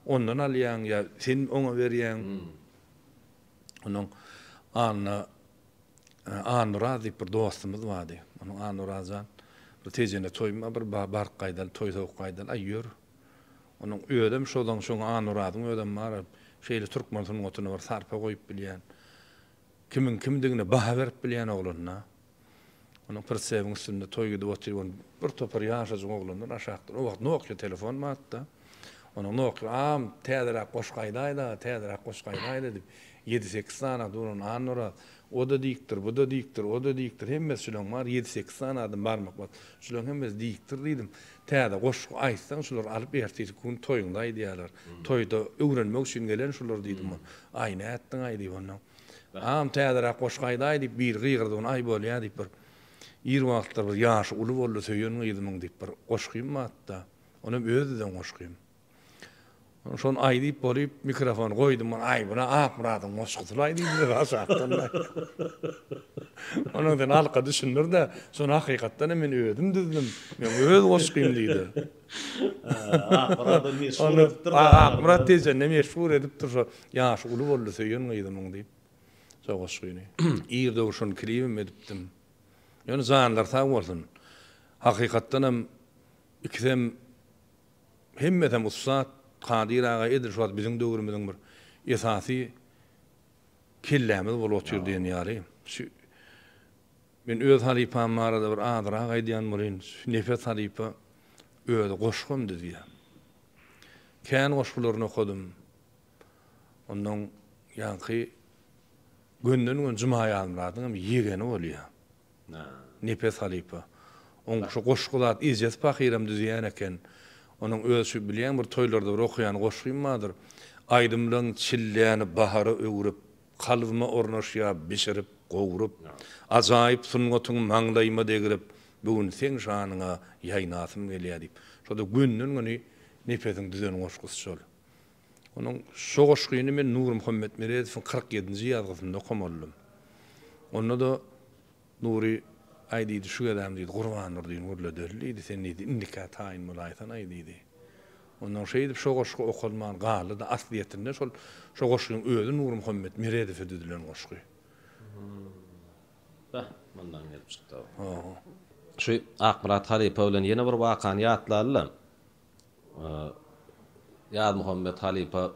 ondan alýaň ýa sen oňa berýäň. Onuň Anna Anuraz diýip bir dostumyz bardy. Onuň Anurazjan bir tejene toýma bir baryp gaýdaly, toý sowup gaýdaly, aý ýör. Onuň özem şozaň şoň Anurazyň özem bar. Şeýle türkmen sungatyna bir sarpa goýup bilýän, kimiň kimdigine baha berip bilýän oglan-da. Onuň prtsebiň üstünde toý gidip otyr, ony bir topar ýaşajyk oglanlar aşakdan, o wagt Nokia telefon batda, onuň Nokia am, täzeräk goşgy aýdaýda, täzeräk goşgy aýdaýda diýip, ýedi-sekiz sany adam duran, Annaoraz, o-da diýipdir, bu-da diýipdir, o-da diýipdir, hemmesi şuleň bary ýedi-sekiz sany adam barmak bas, şuleň hemmesi diýipdir diýdim, täze goşgy aýtsaň şular alyp ertesi gün toýuňda aýdýarlar, toýda öwrenmek üçin gelen şular diýdim, aý nätdiň-aý diýip ondan. Agam täzeräk goşgy aýdaý diýip biri gygyrdygyna aý bolýa diýip bir ir wagtlar bir ýaşy uly boldy söýen gyzymyň diýip bir goşgym batda ol hem öz düzen goşgym şony aý diýip bolyp mikrofon goýdum ol aý buna akmyradyň goşgusylaý diýdiler aşakdan onuň sen alka düşündirde şony hakykatdan hem men özüm düzdüm men öz goşgym diýdi Akmyrady meşhur edipdir daglarda. Onda Akmyrat tejende meşhur edipdir şo Ýaşy uly boldy söýen gyzymyň diýip şo goşgyny. Ir dogşan klibim edipdim. Ýöne janlary sag bolsun. Hakykatdan hem ikisem hemmesem ussat. Kadyr aga edil şu wagt biziň döwrümiziň bir esasy kellämiz bolup otyr diýen ýaly. Men öz halypam barada bir azyrak aýdýan bolýyn. Şu Nepes halypa özi goşgam düzýär. Kän goşgularyny okadym. Onnoň ýaňky gönden-göni Juma Ýazmyradyň hem ýegeni bolýar. Nepes halypa. Oň şu goşgy zat ejesi pahyram düzýän eken. Onuň öz şu bilýän bir toýlarda bir okaýan goşgym bardyr. Aýdymlaň çilläni bahara öwrüp. Kalbyma ornaşýa bişirip, gowrup, Ajaýyp sungatyň maňlaýyma degrip, Bu gün seň şanyňa ýaýnasym gelýä diýip, şo-da gönden-göni Nepesiň düzen goşgusy şol. Onuň şo goşgyny men Nurmuhammet Meredowyň kyrk ýedinji ýazgysynda okamaldym. Onda-da Nury, Aý, diýdi, şu gezem, diýdi, Gurbandurdyny gürledeli, diýdi, sen, diýdi, indikä taýyn bolaýsan-aý, diýdi. Onsoň şeýdip, şo goşgy okalman galdy-da, aslyýetinde şol şo goşgyň özi Nurmuhammet Meredowe düzülen goşgy. Hä, mundan gelip çykdy-ow. Ho-ho. Şu Akmyrat halypa bilen ýene bir wakany ýatlaly-da, Ýazmuhammet halypa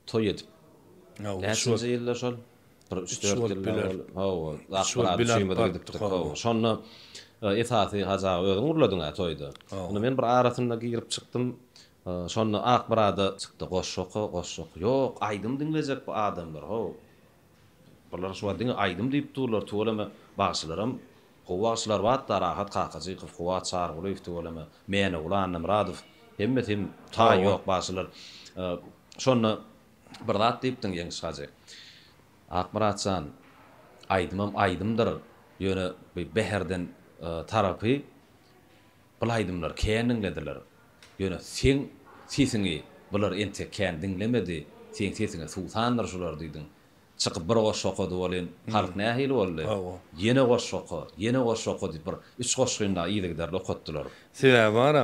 Toý edip. Näçinji ýylda şol? Bir üç-dört ýyl ozal. Hawa. Akbarada üçümizem gidipdik. Hawa. Şonda esasy Hajy aga özüň urladyň-a toýda. Onda men bir arasynda girip çykdym. Şonda Akbarada çykdy. Goşgy oka, goşgy oka. Ýok, aýdym diňlejek bu adamlar, haw. Bular şu wagt diňe aýdym diýip durlar tüweleme bagşylaram gowy bagşylar batda Rahat Kakajykow Kuwat Çarygulyýew tüweleme Mäneguly Annamyradow hemmesi hem taýy ýok bagşylar şonda bir zat diýipdiň Ýeňiş Hajy Akmyrat jan aýdymam aýdymdyr ýöne bu bäherden tarapy Bul aýdymlar kän diňlediler ýöne seň sesiňi bular entek kän diňlemedi seň sesiňe suwsandyr şular diýdiň çykyp bir goşgy okady welin halk nähili boldy ýene goşgy oka ýene goşgy oka diýip bir üç goşgyny dagy yzygiderli okatdylar. Sebäbi bara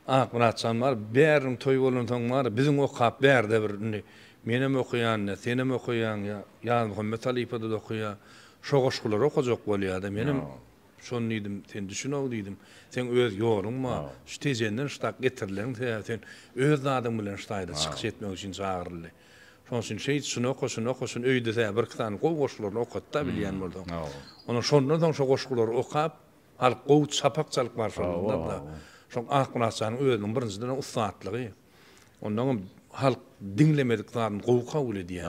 Akmyratjan bar bäriniň toýy bolansoň bara biziň okap bärde bir indi menem okaýan ýa senem okaýaň ýa Ýazmuhammet halypa-da okaýa şo goşgulary okajak bolýada menem Şony diýdim, sen düşün-ow diýdim. Seň öz ýoluň bar. Şu Tejenden şdak getirilegiň sebäbi sen öz zadyň bilen ştaýda çykyş etmek üçin çagyryldy. Şonuň üçin şeýt, şuny oka, şuny oka, şuny öýde-ä bir-iki sany gowy goşgularyny okat-da bilýän bolsaň. Ondan şondan soň şo goşgulary okap, halk gowy çapak çalyp barşylygynda-da, şo Akmyrat janyň özüniň birinjiden-ä ussatlygy. Ondaňam halk diňlemedik zadyny gowy kabul edýär.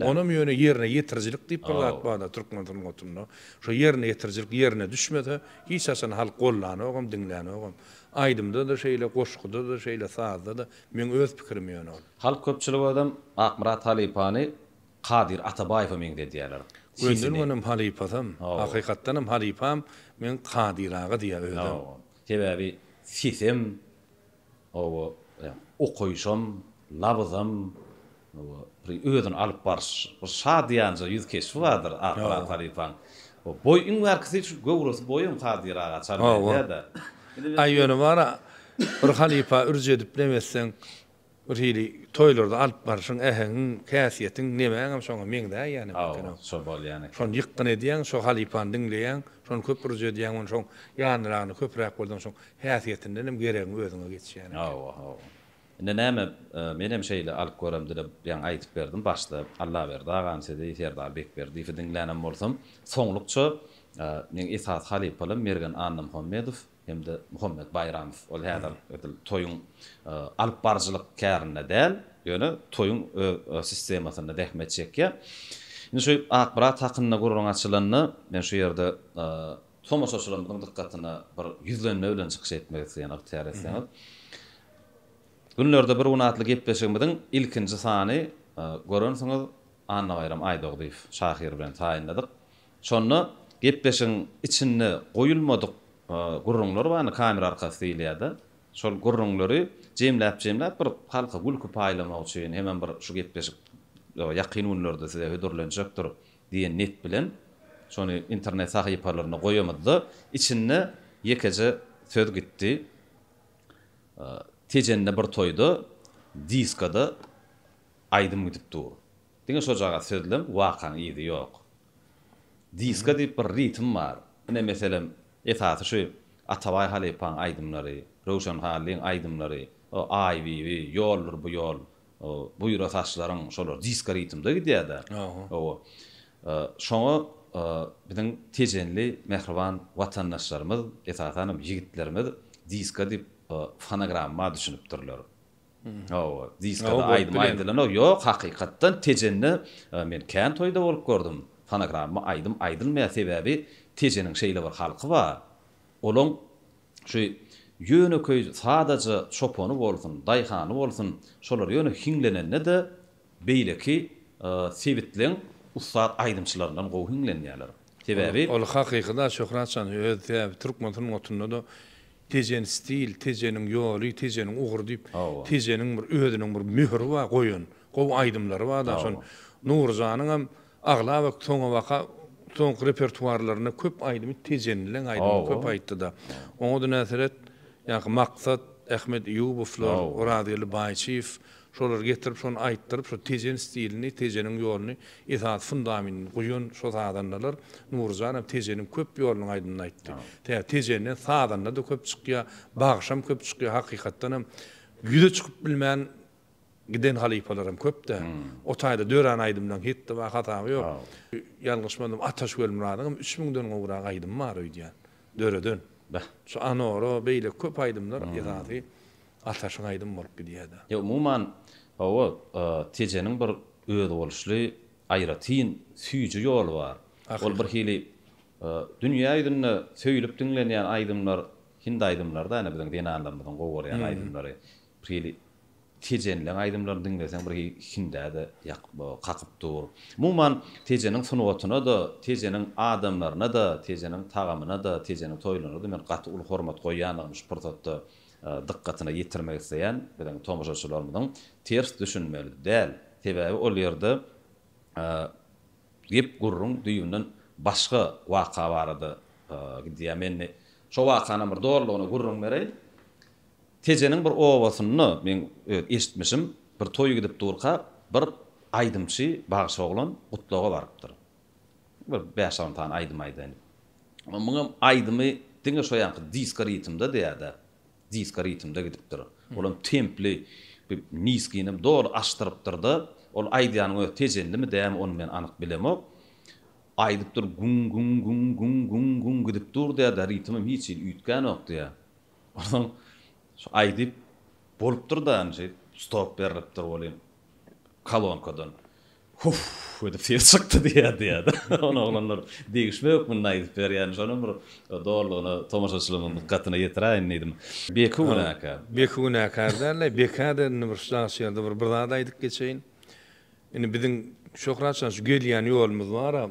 Onam ýöne ýerine ýetirijilik diýip bir zat bar-da türkmen sungatynda. Şo ýerine ýetirijilik ýerine düşmese, hiç haçan halk gollanogam, diňlänogam. Aýdymda-da şeýle, goşguda-da şeýle, sazda-da. Meň öz pikirim ýöne ol. Halk köpçülik özem Akmyrat halypany Kadyr Atabaýewe meňzedýärler. Gönderibenem halypasam, hakykatdanam halypam meň Kadyr aga diýýär özem. Sebäbi sesem, Oba okaýşam, labyzam, oba bir özüni alyp baryş, bir şadyýanja ýüz keşbi bardyr Akyrat halypaň. Oba boý iň bärkisi şu göwresi boýam Kadyr aga çal berýär-de. Aý ýöne bar-a, bir halypa ürç edip näme etseň, bir hili toýlarda alyp baryşyň, äheňiň, häsiýetiň, nemäňem şoňa meňzäýýär ýaly eken-ow. Oba şo bolýan eken. Şony ýykgyn edýäň, şo halypany diňleýäň, şony köp ürç edýäň, ony şoň ýanragyny köpräk bolsaň, şoň Häsiýetinden hem geregiň özüňe geçýän eken. Hawa, hawa. Indi näme, menem şeýle alyp görem dilep ýaňy aýdyp berdim. Başda Allaberdi agany sizi Serdar Bekberdiýewi diňlänem bolsam, soňlukça meň esasy halypalym Mergen Annamuhammedow hem-de Muhammet Baýramow. Ol häzir edil toýuň alyp baryjylyk kärinde däl, ýöne toýuň öz sistemasynda zähmet çekýär. Indi şu Akbrat hakynda gürrüň açylanda, men şu ýerde Tomaşaçylarymyzyň dykgatyna bir ýüzlenme bilen çykyş etmek isleýän ygtyýar etseňiz. Günlerde bir gün atly gepleşigimiziň ilkinji sany görensiňiz Annabaýram Aýdogdyýew şahyr bilen taýynladyk. Şonda gepleşigiň içinde goýulmadyk gürrüňler bardy, kamera arkasy diýilýärdi. Şol gürrüňleri jemläp jemläp bir halka gülki paýlamak üçin hemem bir şu gepleşik ýakyn günlerde size hödürlenjekdir. Diýen niýet bilen şony internet sahypalarynda goýamyzda, içinde ýekeje söz gitdi. Tejende bir toýda diskada aýdym gidip dur. Diňe şojagaz sözlem, wakaň yzy ýok. Diska diýip bir ritm bar. Ine, meselem, esasy şu Atabaý halypaň aýdymlary, Röwşen Hallyň aýdymlary, o Aýbibi, Ýoldur bu ýol, Buýra saçlaryň şolar disko ritmde gidýär-de. Hawa. Şoňa biziň tejenli mähriban watandaşlarymyz, esasanam ýigitlerimiz disko diýip fonogramma düşünipdirler. Hawa, diskada aýdym aýdylanok. Ýok, hakykatdan tejende men kän toýda bolup gördüm, fonogramma aýdym aýdylmaýar. Sebäbi tejeniň şeýle bir halky bar. Olaň şu ýönekeý sadaja çopany bolsun, daýhany bolsun, şolar ýöne hiňlenende-de beýleki sebitleň ussat aýdymçylaryndan gowy hiňlenýärler. Sebäbi. Ol hakyky-da Şöhratjan öz sebäbi türkmen sungatynda-da Tejeniň stil, Tejeniň ýoly, Tejeniň ugry diýip, Tejeniň bir özüniň bir möhüri bar goýan. Gowy aýdymlary bar-da şol. Nurjanyňam Aglaba soňabaka soňky repertuarlarynda köp aýdymy tejenleň aýdymy köp aýtdy-da. Oňa-da näseret, ýaňky Maksat, Ahmet Eýubowlar, Orazgeldi Baýçyýew şolary getirip, şony aýtdyryp, şo tejen stilini, tejeniň ýoluny esas fundamentini guýan şo sazandalar. Nuryjan hem tejeniň köp ýolunyň aýdymyny aýtdy. Tä tejenden sazanda-da köp çykýar, bagşam köp çykýar, hakykatdan hem ýüze çykyp bilmän Giden halypalaram köp dä. O taýda dörän aýdymlaň hitdi bar, hasaby ýok. Ýalňyşmadym Ataş Welmyradyňam üç müňden gowrak aýdymy bar öýdýän, döreden. Şu Anora, beýleki köp aýdymlar esasy Ataşyň aýdymy bolup gidýär-dä. Ýa umuman, hawa, Tejeniň bir özboluşly, aýratyn süýji ýoly bar. Ol bir hili dünýä ýüzünde söýlüp diňlenýän aýdymlar hindi aýdymlary-da, ine biziň zenanlarymyzyň gowy görýän aýdymlary. Bir hili Tejenleň aýdymlaryny diňleseň bir hindä-de kakyp dur. Umuman, Tejeniň sungatyna-da, Tejeniň adamlaryna-da, Tejeniň tagamyna-da, Tejeniň toýlaryna-da men gaty uly hormat goýýandygymy şu pursatda dykgatyna ýetirmek isleýän biziň tomaşaçylarymyzyň. Ters düşünmeli däl. Sebäbi ol ýerde gep-gürrüň düýbünden başga waka barada gidýär. Men indi şo wakanam bir dolulygyna gürrüň bereýin. Tejeniň bir obasynda men öz eşitmişim, bir toý gidip durka, bir aýdymçy bagşy oglan gutlaga barypdyr. Bir bäş-on sany aýdym aýdaýyn. Muňam aýdymy diňe şo ýanky disko ritmde diýýär-dä. Disko ritmde gidipdir. Olam templi, bir niskinem doly aşdyrypdyr-da, ol aýdýanyň özi Tejendimi, dämi, ony men anyk bilemok. Aýdypdyr, Guň-guň-guň-guň-guň-guň gidip dur diýýär-dä, ritmem hiç hili üýtgänok diýýär. Onsoň şu aýdyp bolupdyr-da anjeýip stop berlipdir welin kolonkadan Huff edip ses çykdy diýýär diýýär-de. Ony oglanlar degişme hökmünde aýdyp berýär. Şonam bir dolulygyna tomaşaçylarymyň dykgatyna ýetiräýin diýdim. Beki günäkär. Beki günäkär däl-de. Bekä-de indi bir şahs ýerde bir zat aýdyp geçeýin. Indi biziň Şöhratjan şu gelýän ýolumyz bar-a,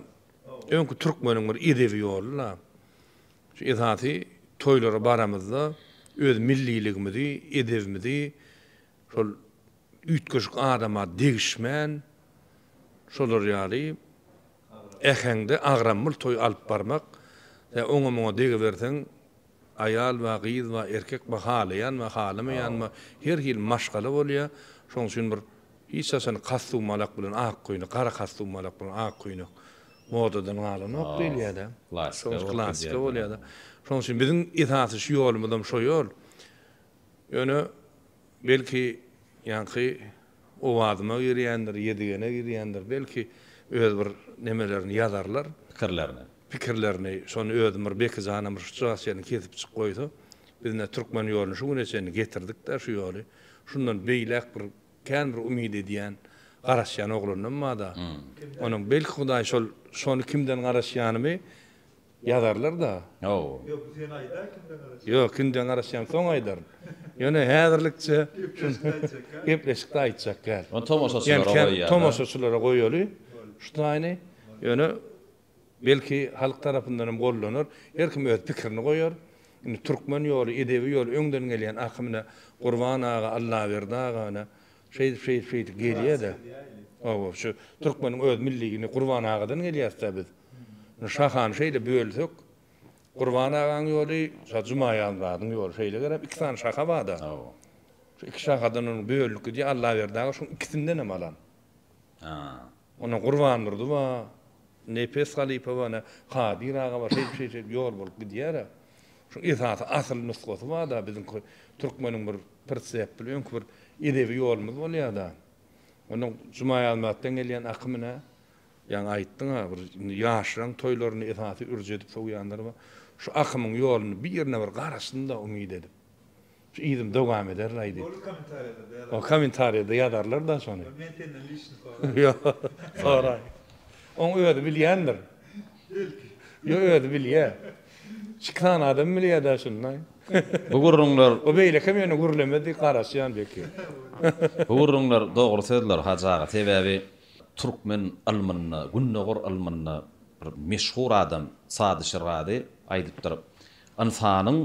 öňki türkmeniň bir edebi ýoly-la. Şu esasy toýlara baramyzda öz milliligimizi, edebimizi şol üýtgeşik adama degişmän şolar ýaly äheňde agramly toý alyp barmak ýa oňa-muňa degiberseň aýal we gyz we erkek we halaýan we halamaýan we her hili maşgala bolýar. Şonuň üçin bir Hiç haçan kostumalak bilen ak köýnek, gara kostumalak bilen ak köýnek modadan galanok diýilýär-de. Klasika klasika bolýar-da. Şonuň üçin biziň esasy şu ýolumyzam şo ýol. Ýöne, belki, ýaňky owazyma girýändir, Ýedigene girýändir, belki, öz bir nemelerini ýazarlar. Pikirlerini. Pikirlerini. Şony özüm bir Beki janam bir şujagas ýerini kesipjik goýsa, biz ine türkmen ýoluny şu güne çenli getirdik-de şu ýoly. Şundan beýläk bir Kän bir umyt edýän, garaşýan oglandan bada, onuň belki Hudaý şol şony kimden garaşýanymy ýazarlar-da. Ýok, kimden garaşýanymy soň aýdaryn. Ýöne häzirlikçe gepleşikde aýtjak däl. Ony tomaşaçylara goýýa-da. Tomaşaçylara goýaly şu taýyny. Ýöne Belki halk tarapyndan hem goldanar. Her kim öz pikirini goýar. Indi türkmen ýoly, edebi ýoly öňden gelýän akymyna Gurban aga, Allaberdi agany şeýdip şeýdip şeýdip gelýädä. Hawa, şu türkmeniň öz milli indi Gurban agadan gelýäsdä biz. Indi şahany şeýle bölsek, Gurban agaň ýoly, şa Jumaýazmyradyň ýoly şeýle gerem iki sany şaha barda. Hawa. Şu iki şahadan onuň bölünip gidýär. Allaberdi aga şuň ikisinden hem alan. Haa. Onda Gurbandurdy bar, Nepes halypa bar, ine, Kadyr aga bar, şeýdip, şeýdip ýol bolup gidýär-ä. Şuň esasy asyl nusgasy bar-da, biziňki türkmeniň bir pritsepli öňki bir edebi ýolumyz bolýar-da. Onda Jumaýazmatdan gelýän akym, ine, ýaňy aýtdyň-a, bir indi ýaşlaryň toýlarynda esasy ürji edip sowýanlary bar. Şu akymyň ýoluny birine bir garaşsyn-da, umyt edip. Şu yzym dowam eder laý diýip. Bolar kommentariýada ýazarlar. O kommentariýada ýazarlar da şony. Men senden liçni soraýan. Ýok, soraý. Oň özi bilýändir. Belki. Ýok özi bilýä. Çykan adam bilýä da şuny laý. Bu gürrüňler. O beýlekem ýöne gürlemez diýip garaşýan belki. Bu gürrüňler dogry sözler Hajy aga sebäbi türkmen ylmynda, gündogar ylmynda bir meşhur adam Sady Şirgazy aýdypdyr, Ynsanyň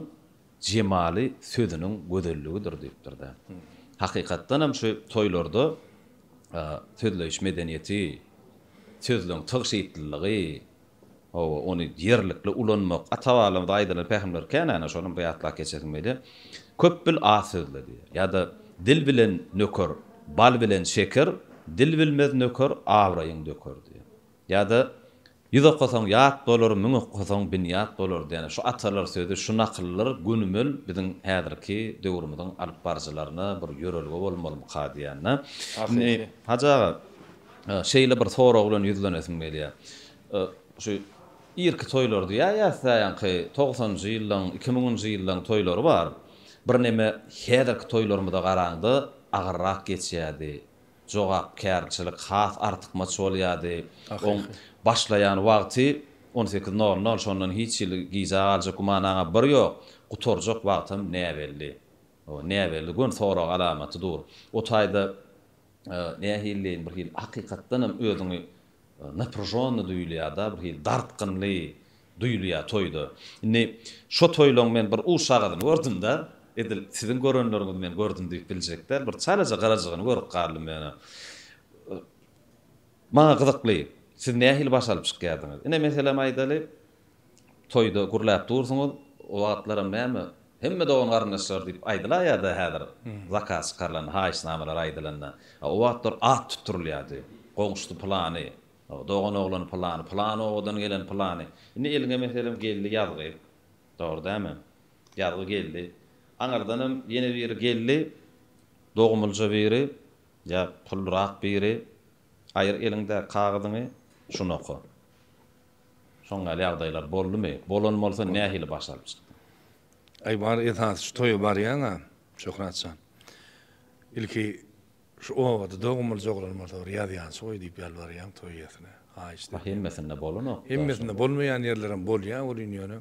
jemaly sözüniň gözelligidir diýipdir-de. Hakykatdan hem şu toýlarda sözleýiş medeniýeti, sözleň tygşytlylygy, hawa, ony ýerlikli ulanmak, ata-babalarymyza aýdylan pähimler känäni, şonam bir ýatlap geçesim gelýär, Köp bil, az sözle diýýär. Ýa-da Dil bilen nöker, bal bilen şeker, Dil bilmez nöker, abraýyň döker diýýär. Ýa-da, Ýüz okasaň, ýat bolar, müň okasaň, binýat bolar diýen şu atalar sözi, şu nakyllar gönümel biziň häzirki döwrümiziň alyp baryjylaryna bir ýörelge bolmalymyka diýen-de. Indi, Hajy aga, şeýle bir sorag bilen ýüzlenesim gelýär. Şu irki toýlar diýýäs, ýaňky togsanjy ýyllaryň, iki müňünji ýyllaryň toýlary bar. Birneme häzirki toýlarymyza garaňda agyrrak geçýärdi. jogapkärçilik has artykmaç bolýardy. Oň başlaýan wagty on sekiz nol nol, şondan hiç hili gijä galjak gümanaňa bir ýok, gutarjak wagtam näbelli. O, näbelli gön sorag alamaty dur. O taýda nähilileýin bir hili hakykatdanam özüňi Napryžonny duýulýada bir hili dartgynly duýulýa toýda. Indi şo toýlaň men bir uşagazyny gördümda, edil siziň görenleriňizi men gördüm diýip biljek däl, bir çalaja garajygyny görüp galdym ýöne. Maňa gyzykly, siz nähili baş alyp çykýardyňyz? Ine meselem aýdaly, Toýda gürläp dursuňyz, o wagtlaram näme, hemme dogan-garyndaşlar diýip aýdylaýýa-da häzir, zakaz çykarylanda, haýyşnamalar aýdylanda. A o wagtlar at tutdurylýardy. Goňşusy pylany, dogan oglany pylany, pylan obadan gelen pylany. Indi eliňe, meselem, geldi ýazgy. Dogry dälmi? Ýazgy geldi. Aňyrdanam ýene biri geldi, dogumlyja biri ýa pullurak biri. Aýyr eliňdäki kagyzyňy, şuny oka. Şoň ýaly ýagdaýlar boldumy? Bolan bolsa nähili baş alyp çykdyň? Aý bar esasy şu toýa barýaňa Şöhrat jan ilki şu obada dogum bolja oglan bolsa bir ýazýançy goý diýip ýalbarýaň toý iýesine haýyşt edýän. Hemmesinde bolanok. Hemmesinde bolmaýan ýerlerem bolýa welin ýöne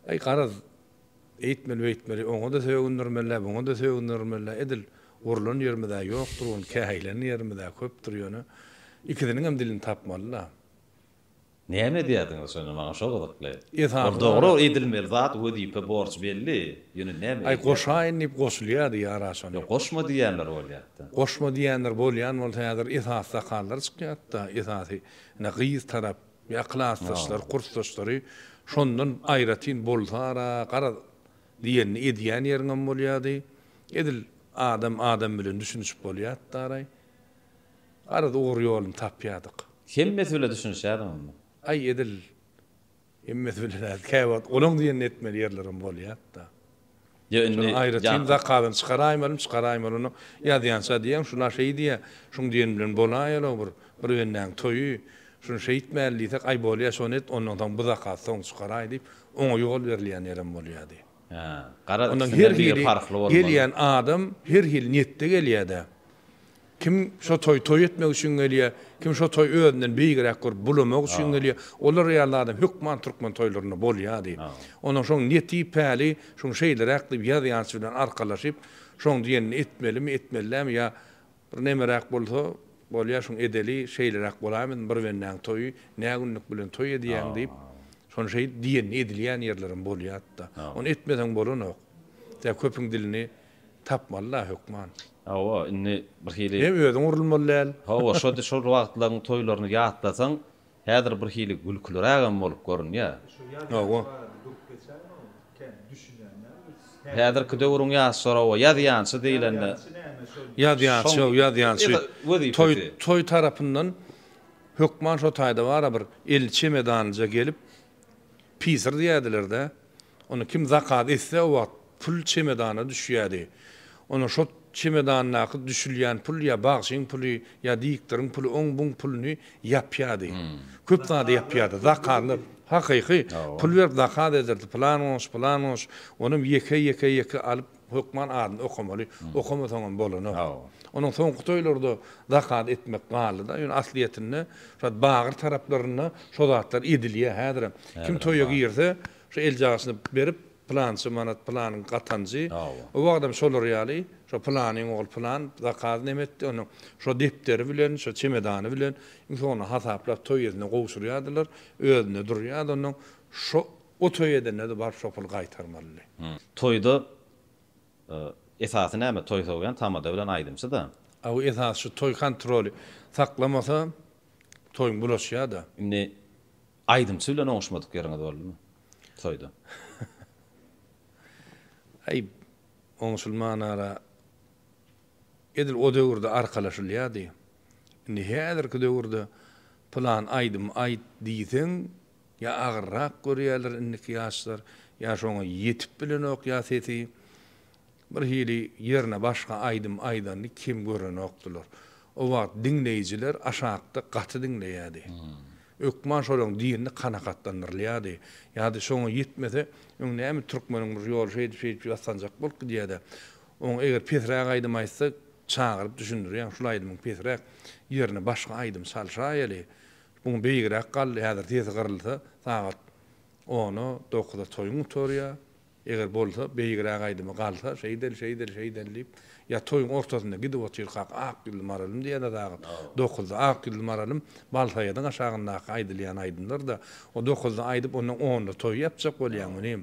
aý garaz eýtmeli beýtmeli oňada sögündirmelä buňada sögündirmelä edil urlan ýerimizä ýokdur ony käýilen ýerimizä köpdür ýöne ikisiniňem dilini tapmalyda. Näme edýärdiňiz şonda maňa şo gyzykly. Ol dogry edilmeli zat wezipe borç belli ýöne näme edýärdiňiz. Aý goşaýyn diýip goşulýardy ýara şony. Ýok goşma diýýänler bolýarda. Goşma diýýänler bolýan bolsa häzir esasy sakallar çykýarda esasy ine gyz tarap ýa klasdaşlary kursdaşlary şondan aýratyn bolsara garaz diýenini edýän ýeriňem bolýardy edil adam adam bilen düşünişip bolýardaray. Garaz ugur-ýoluny tapýardyk. Hemmesi bile düşünişýärdim onda. Aý edil hemmesi bile däl, käwagt olaň diýenini etmeli ýerlerim bolýardy-da. Ýa indi Şonuň aýratyn zakazyny çykaraýmalym, çykaraýmalyny ýazýança diýýän, şuna şeý diýýä, şuň diýeni bilen bolaýalygy bir, bir bendäň toýy, şuny şeýtmäli diýsek, aý bolýa şony et, ondan soň bu zakaz soň çykaraý diýip, oňa ýol berilýän ýerem bolýardy. Ondan her hili gelýän adam her hili niýetde gelýär-dä. Kim şo toýy toý etmek üçin gelýär, kim şo toýy özünden beýigräk görüp bulamak üçin gelýär. Olar ýaly adam hökman türkmen toýlarynda bolýardy. Ondan şoň niýeti päli şoň şeýleräk diýip ýaz ýançy bilen arkalaşyp, şoň diýenini etmelimi, etmeli dälmi ýa Bir nemeräk bolsa bolýa şuň edeli şeýleräk bola bilsin bir bendäň toýy nä günlük bilen toý edýäň diýip şony şeýdip diýenini edilýän ýerlerem bolýatda ony etmeseň bolanok tä köpüň dilini tapmaly da hökman. Hawa indi birhili. Hem özüň urulmaly däl. Hawa şo wagtlaň toýlaryny ýatlasaň Häzir bir hili gülkülirägem bolup görünýär. Hawa. Häzirki döwrüň ýaşlary oba ýazýançy diýlende. Ýazýançy ýok, ýazýançy. Toý, toý tarapyndan hökman şo taýda bar-a bir elli çemedanlyja gelip, pisir diýerdiler-dä. Ony kim zakat etse, o wagt pul çemedana düşýärdi. Onda şo çemedandaky düşülýän pul ýa bagşyň puly, ýa diktoriň puly, oň-buň puluny ýapýardy. Köp zady ýapýardy. Zakatlar, hakyky, pul berip zakat ederdi. Pylan goňşy, pylan goňşy. Onuň ýeke, ýeke, ýeke alyp, hökman adyny okamaly. Okamasaňam bolanok. Onuň soňky toýlarda zakat etmek galdy-da. Ýöne aslyýetinde, şat bagyr taraplarynda şo zatlar edilýär häzirem. Kim toýa girse, Şu eljagysyny berip, pylança manat, pylanyň gatanjy, o wagtam şolar ýaly, şo pylanyň ogly pylan zakaz neme etdi, onuň şo depderi bilen, şo çemedany bilen iň soňunda hasaplap toý edene gowşurýardylar, özünde durýardy, onnoň şo o toý edende-de baryp şo puly gaýtarmalydy. Toýda esasy näme? Toý sogýan tamada bilen aýdymçy-da. Aw, esasy şu toý kontroly saklamasa, toýuň bulaşýar-da. Indi Aýdymçy bilen oňuşmadyk ýeriňiz boldumy toýda? Aýb, oňuşylman ara. Edil o döwürde arkalaşylýardy. Indi häzirki döwürde pylan aýdymy aýt diýseň, ýa agyrrak görýärler indiki ýaşlar, ýa şoňa ýetip bilenok ýa sesi. Bir hili ýerine başga aýdym aýdanyny kem görenokdylar. O wagt diňleýjiler aşakda gaty diňleýärdi. Ökman şolaň dilini kanakatlandyrylýardy. Ýa-da şoňa ýetmese, öň näme türkmeniň bir ýoly şeýdip-şeýdip ýassanjak bolup gidýär-dä. Oňa eger pesräk aýdym aýtsa, çagyryp düşündirýäň, şul aýdymyň pesräk ýerine başga aýdym çalşaýaly. Buň beýigräk galdy, häzir sesi gyrylsa, sagat ona, dokuza toýuň gutarýar. Eger bolsa, beýigräk aýdymy galsa, şeýdeli, şeýdeli, şeýdeli diýip, ýa toýuň ortasynda gidip otyrkak Ak ýüzli maralym diýen-ä dagyt, dokuzda Ak ýüzli maralym, Balsaýadyň aşagyndaky aýdylýan aýdymlar-da, o dokuzda aýdyp, ondan onda toý ýapjak bolýaň munym.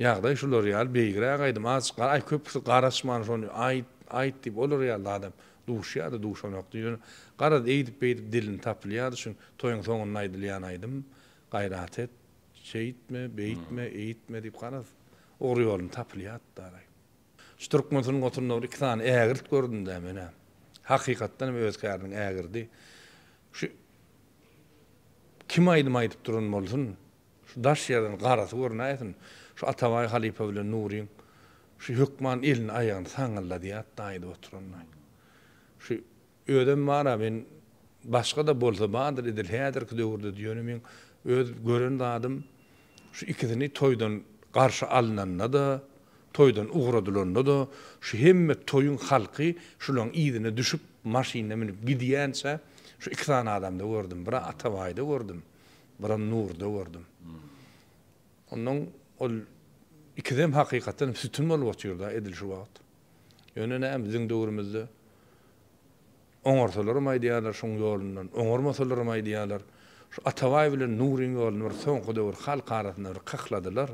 Ýagdaý şular ýaly, beýigräk aýdym, azjyk gara, aý, köpüsi garaşman şony aýt, aýt diýip, olar ýaly-da adam duşýar-da, duşanokdy, ýöne garaz, eýdip-beýdip dilini tapylýardy, şuň toýuň soňunda aýdylýan aýdym, Gaýrat et, Şeýtme, beýtme, eýtme diýip garaz, ugry ýoluny tapylýardy-dalaý. Şu türkmen sungatynda bir iki sany ägirt gördüm-dä men-ä. Hakykatdan hem öz käriniň ägirdi. Şu kim aýdym aýdyp duran bolsun, şu daş ýerden garasy görünäýsin, şu Atabaý halypa bilen Nuryň şu hökman elini-aýagyny saňňyldadýardy-da aýdyp oturanda. Şu Özem bar-a men başga-da bolsa bardyr edil häzirki döwürde-de ýöne meň öz gören zadym şu ikisini toýdan garşy alnanda-da, toýdan ugradylanda-da şu hemme toýuň halky şulaň yzyna düşüp maşyna münüp gidýänçä şu iki sany adamda gördüm. Bir-a Atabaýda gördüm, bir-a Nurda gördüm. Onnoň ol ikisem hakykatdanam sütün bolup otyr-da edil şu wagt. Ýöne näme, biziň döwrümizde oňarsalaram aýdýarlar şoň ýolundan, oňarmasalaram aýdýarlar. Şu Atabaý bilen Nuryň ýoluny bir soňky döwür halk arasynda bir kykladylar.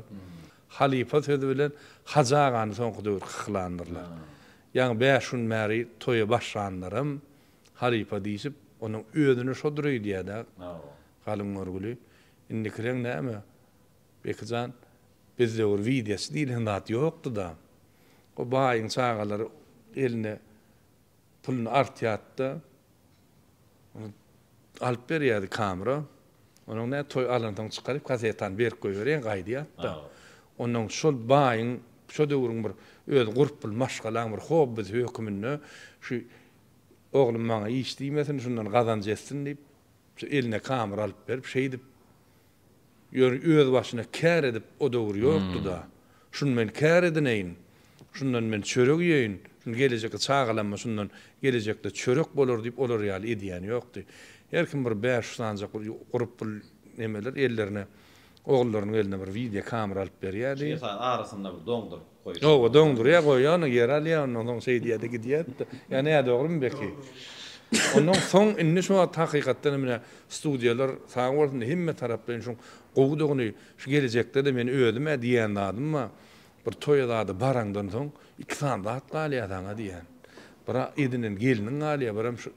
Halypa sözi bilen Hajy agany soňky döwür kyklandyrlar. Ýaňy bäş gün bäri toýa başlanlaram halypa diýşip, onuň özüne şodur öýdýär-dä, galyň görgüli. Indikileň näme, Bekijan, biz döwür widesy diýlen zat ýokdy-da. O baýyň çagalary eline puluny artýardy-da, ony alyp berýärdi kamera. Onuň näme, toý alansoň çykaryp, kasetany berip goýberýän, gaýdýardy-da. Onnoň şol baýyň, şo döwrüň bir öz gurup pul maşgalaň bir hobbisi höküminde şu oglum maňa iş diýmesin, şundan gazanç etsin diýip, şu eline kamera alyp berip, şeýdip, Ýör, öz başyna kär edip o döwür ýokdy-da. Şuny men kär edineýin, şundan men çörek iýeýin, şuny gelejekki çagalamma şundan gelejekde çörek bolar diýip olar ýaly edýäni ýokdy. Her kim bir bäş sanjak bir gurup bir nemeler ellerine, ogullarynyň eline bir wideo kamera alyp berýärdi. Şeýle saýyn arasynda bir doňduryp. Oba doňdurýa goýýany ýere alýa ondan soň şeýdýädi gidýädi-de ýa nä dogrymy belki. Ondan soň indi şu wagt hakykatdanam menä studiýalar sag bolsun hemme taraplaýyn şuň gowudygyny şu gelejekde-de men özüm-ä diýen zadym bar bir toýa zada baraňdan soň iki sany zat galýa saňa diýýän bir edinen gelniň galýa birem şu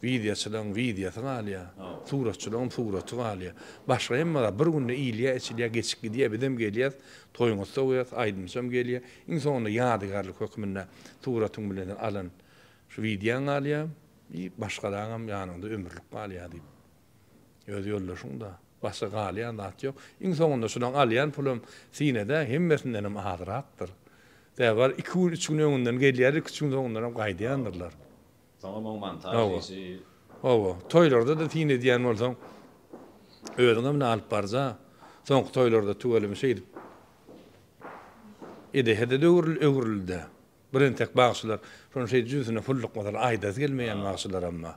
Wideoçylaň wideosy galýa, suratçylaň suraty galýa. Başga hemme zat bir günde iýilýä, içilýä, geçip gidýä, bizem gelýäs, toýuňa sowýas, aýdymçam gelýä. Iň soňunda ýadygärlik hökmünde suratyň bilen sen alan şu wideoň galýa i başgalaňam ýanyňda ömürlik galýa diýip. Öz ýoldaşyňda, başga galýan zat ýok. Iň soňunda şulaň alýan pulam sinede hemmesindenem azyrakdyr. Sebäbi bar iki gün, üç gün öňünden gelýärler, iki-üç gün soňundanam gaýdýandyrlar. Soňam oň montaž işi. Hawa. Toýlarda-da syn edýän bolsaň, özüňe mine alyp barja, soňky toýlarda tüweleme şeýdip edehe-de öwrüldi-dä. Bir entek bagşylar şony şeýdip jübüsine pullukmasalar aýdasy gelmeýän bagşylaram bar.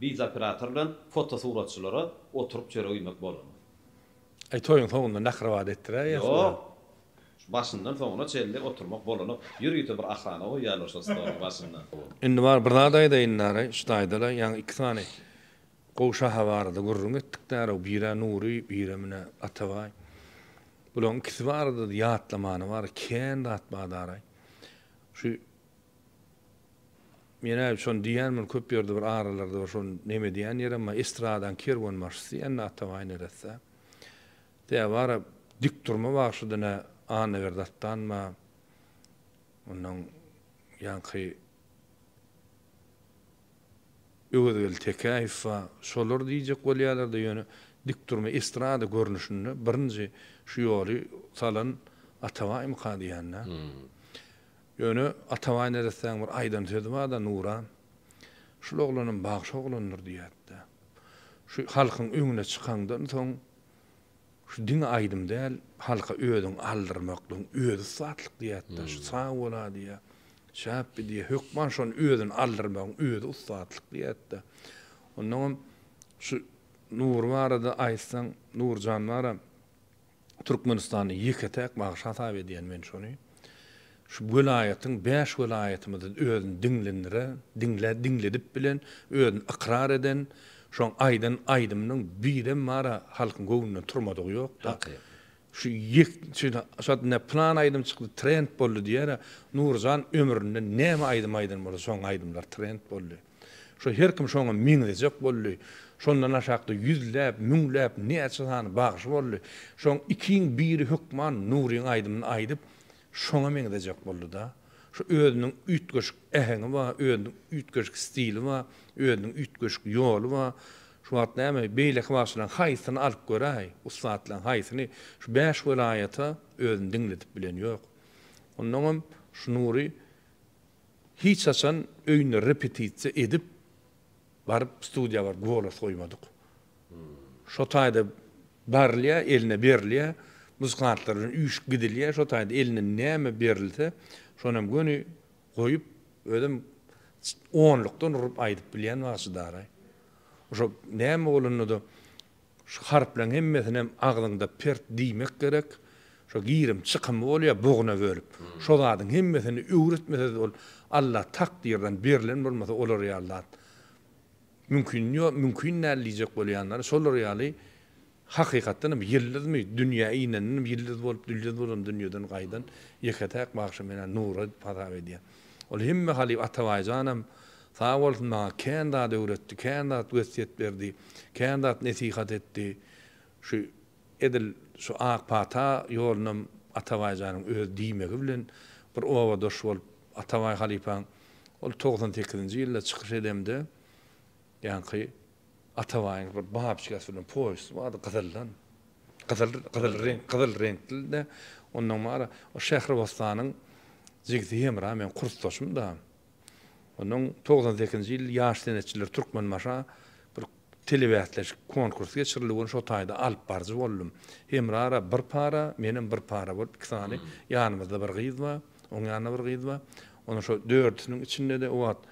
Biz operator bilen fotosuratçylara oturyp çörek iýmek bolanok. Aý toýuň soňunda nahrabada etdiräýýä. Ýok. Başyndan soňuna çenli oturmak bolanok. Ýörite bir ahrana goýýarlar şol stoluň başynda. Indi bar bir zat aýdaýyn daraý, şu taýdala ýaňy iki sany gowy şaha barada gürrüň etdik daraw, bir-ä Nury, bir-ä menä Atabaý. Bulaň ikisi barada-da ýatlamana bar, kän zat bar daraý. Şu Men äý şony diýýän muny köp ýerde bir aralarda bir şony neme diýýän ýerem bar estradaň kerwenbaşysy diýýän nä atabaý neresse tä bara dik durma bagşydy nä Annaberdi atdanba ondan ýaňky Öwezgeldi Tekäýewba şolar diýjek bolýalarda ýöne dik durma estrada görnüşinde birinji şu ýoly salan atabaýmyka diýýän nä. Ýöne Atabaý neressäň bir aýdan sözi bar-da, Nuran, şul oglanam bagşy oglandyr diýýärdi-de. Şu halkyň öňüne çykaňdan soň, şu diňe aýdym däl, halka özüňi aldyrmaklygyň özi ussatlyk diýýärdi-de. Şu sag bol-a diýýär, şäpbi diýýär, hökman şony özüni aldyrmagyň özi ussatlyk diýýärdi-de. Onnoňam şu Nury barada aýtsaň, Nurjan bar-a, Türkmenistanda ýeke-täk bagşy hasap edýän men şony. Şu welaýatyň bäş welaýatymyzda özüni diňlenire, diňle, diňledip bilen, özüni ykrar eden, şoň aýdan aýdymynyň birem bar-a, halkyň göwnünden turmadygy ýok-da. Hakykat. Şu ýek, şeýle, şat ine plan aýdym çykdy, trend boldy diýer-ä, Nuryjan ömründe näme aýdym aýdan bolsa, şoň aýdymlar trend boldy. Şo her kim şoňa meňzejek boldy. Şondan aşakda ýüzläp, müňläp, näçe sany bagşy boldy. Şoň ikiň biri hökman Nuryň aýdymyny aýdyp, şoňa meňzejek boldy-da. Şo özüniň üýtgeşik äheňi bar, özüniň üýtgeşik stili bar, özüniň üýtgeşik ýoly bar. Şu wagt näme, beýleki bagşylaryň haýsyny alyp göräý, ussatlaryň haýsyny? Şu bäş welaýata özüni diňledip bilen ýok. Onnoňam şu Nury Hiç haçan öýünde repetisiýa edip baryp studiýa baryp golos goýmadyk. Şo taýda barylýar, eline berilýär, muzykantlar bilen üýşüp gidilýär, şo taýda eline näme berilse, şony hem göni goýup, özem onlukdan urup aýdyp bilýän wagşy daraý. Şo näme bolanda-da Şu harplaň hemmesinem agzyňda pert diýmek gerek. Şo girim çykymy bolýa boguna bölüp. Şo zadyň hemmesini öwretmesez ol Allah takdyrdan berlen bolmasa olar ýaly zat mümkin ýok mümkin däl diýjek bolýanlary şolar ýaly hakykatdanam ýyldyzmy dünýä ineninem ýyldyz bolup dülýyz bolan dünýeden gaýdan ýeke täk bagşy menä Nura diýip hasap edýän. Ol hemme halyp Atabaýjanam Sag bolsun maňa kän zat öwretdi, kän zat wesýet berdi, kän zat nesihat etdi. Şu edil şu ak pata ýolunam Atabaý janyň öz diýmegi bilen bir obadaş bolup Atabaý halypaň ol togsan sekizinji ýylda çykyş edemde ýaňky Atabaýyň bir babçigasy bilen poýesty bardy gyzyldan gyzyl gyzyl reňk gyzyl reňkli-de ondan bara o Şähribossanyň jigisi Hemra meň kursdaşym-da. Ondan togsan sekizinji ýyl ýaş senetçiler Türkmenbaşa bir telebäsleşik, konkurs geçirildi. Ony şo taýda alyp baryjy boldum. Hemrara bir para, menem bir para bolup iki sany, ýanymyzda bir gyz bar, oň ýanynda bir gyz bar. Onuň şo dördüsiniň içinde-de o wagt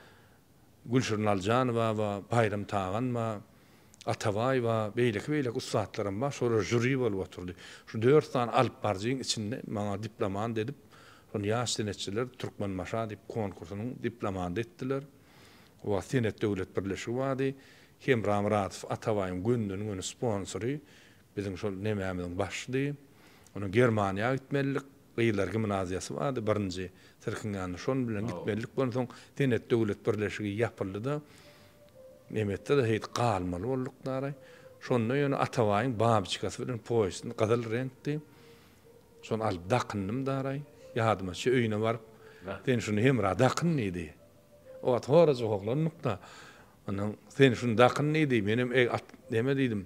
Gülşirin Aljanowa bar, Baýram Tagan bar. Atabaýewa, beýleki-beýleki ussatlaram bar, şolar žuri bolup oturdy. Şu dört sany alyp baryjyň içinde maňa diplomant edip, şony ýaş senetçiler Türkmenbaşa diýip konkursynyň diplomanty etdiler. O wagt Senet döwlet birleşigi bardy. Hemra Myradow, Atabaýewiň gönden-göni sponsory. Biziň şol nemämiziň başydy. Onuň Germaniýa gitmelidik. Gyzlar gimnaziýasy bardy, birinji sirkiň ýanyna şonuň bilen gitmelidik. Onsoň Senet döwlet birleşigi ýapyldy-da, Nemesde-de heýt galmaly bolduk daraý. Şonda ýöne Atabaýyň babiçkasy bilen poýesini gyzyl reňkdi. Şony alyp dakyndym daraý. Ýadyma çe öýüne baryp, Sen şuny hemra dakyn diýdi. O wagt horajak oglandyk-da. Onsoň Sen şuny dakyn diýdi. Menem Eg at neme diýdim.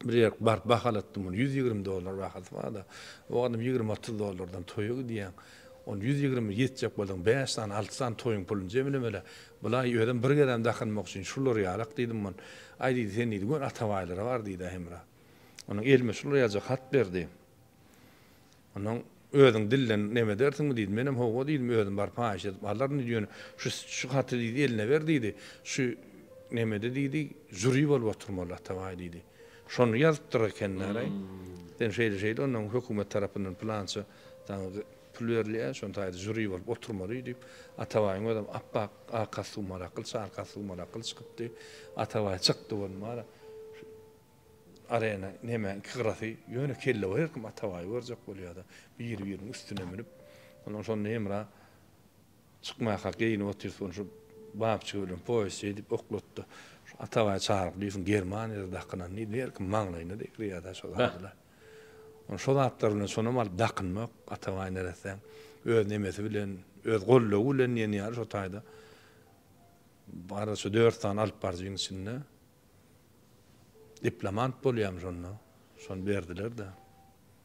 Bir ýerk baryp bahalatdym ony, ýüz ýigrimi dollar bahasy barda. O adam ýigrimi-otuz dollardan toýa gidýäň. Ony ýüz ýigrimi ýetjek bolsaň, bäş sany, alty sany toýuň pulyny jemlemeli. Bulaý, özem bir gezem dakynmak üçin şular ýarak diýdim on. Aý diýdi, sen diýdi, gön Atabaýlara bar diýdi-ä Hemra. Onuň elime şular ýazjak hat berdi. Onsoň özüň dilden nem edersiňmi? diýdi. Menem hawa diýdim, özüm baryp haýyş edip alaryn diýdi. Ýöne şu şu haty diýdi, eline ber diýdi. Şu nemede diýdi, žuri bolup oturmaly Atabaý diýdi. Şony ýazypdyr ekeniler-aý. Sen şeýle-şeýle ondan hökümet tarapyndan pylança saňa pul berilýär, şon taýda žuri bolup oturmaly diýip, Atabaýyň özem ap-ak arkasy suwmalakyl, çarkasy suwmalakyl çykypdy. Atabaý çykdy bolmara. Arena neme iki gyrasy yöne kelle var herkim atabaýy görjek bolýada biri biriniň üstüne münüp ondan şonda hemra çykmaka geýinip otyrs ony şu babçygy bilen poýuz şeýdip oklatdy şu atabaýy çagyryp diýsin germaniýada dakynan diýdi herkim maňlaýyna degirýada şu zadylar on şu zatlar bilen şonam alyp dakynmak atabaý neressäň öz nemesi bilen öz goldawy bilen diýen ýaly şu taýda bara şu dört sany alyp baryjyň içinde Diplomant bolýam şonda. Şony berdiler-de.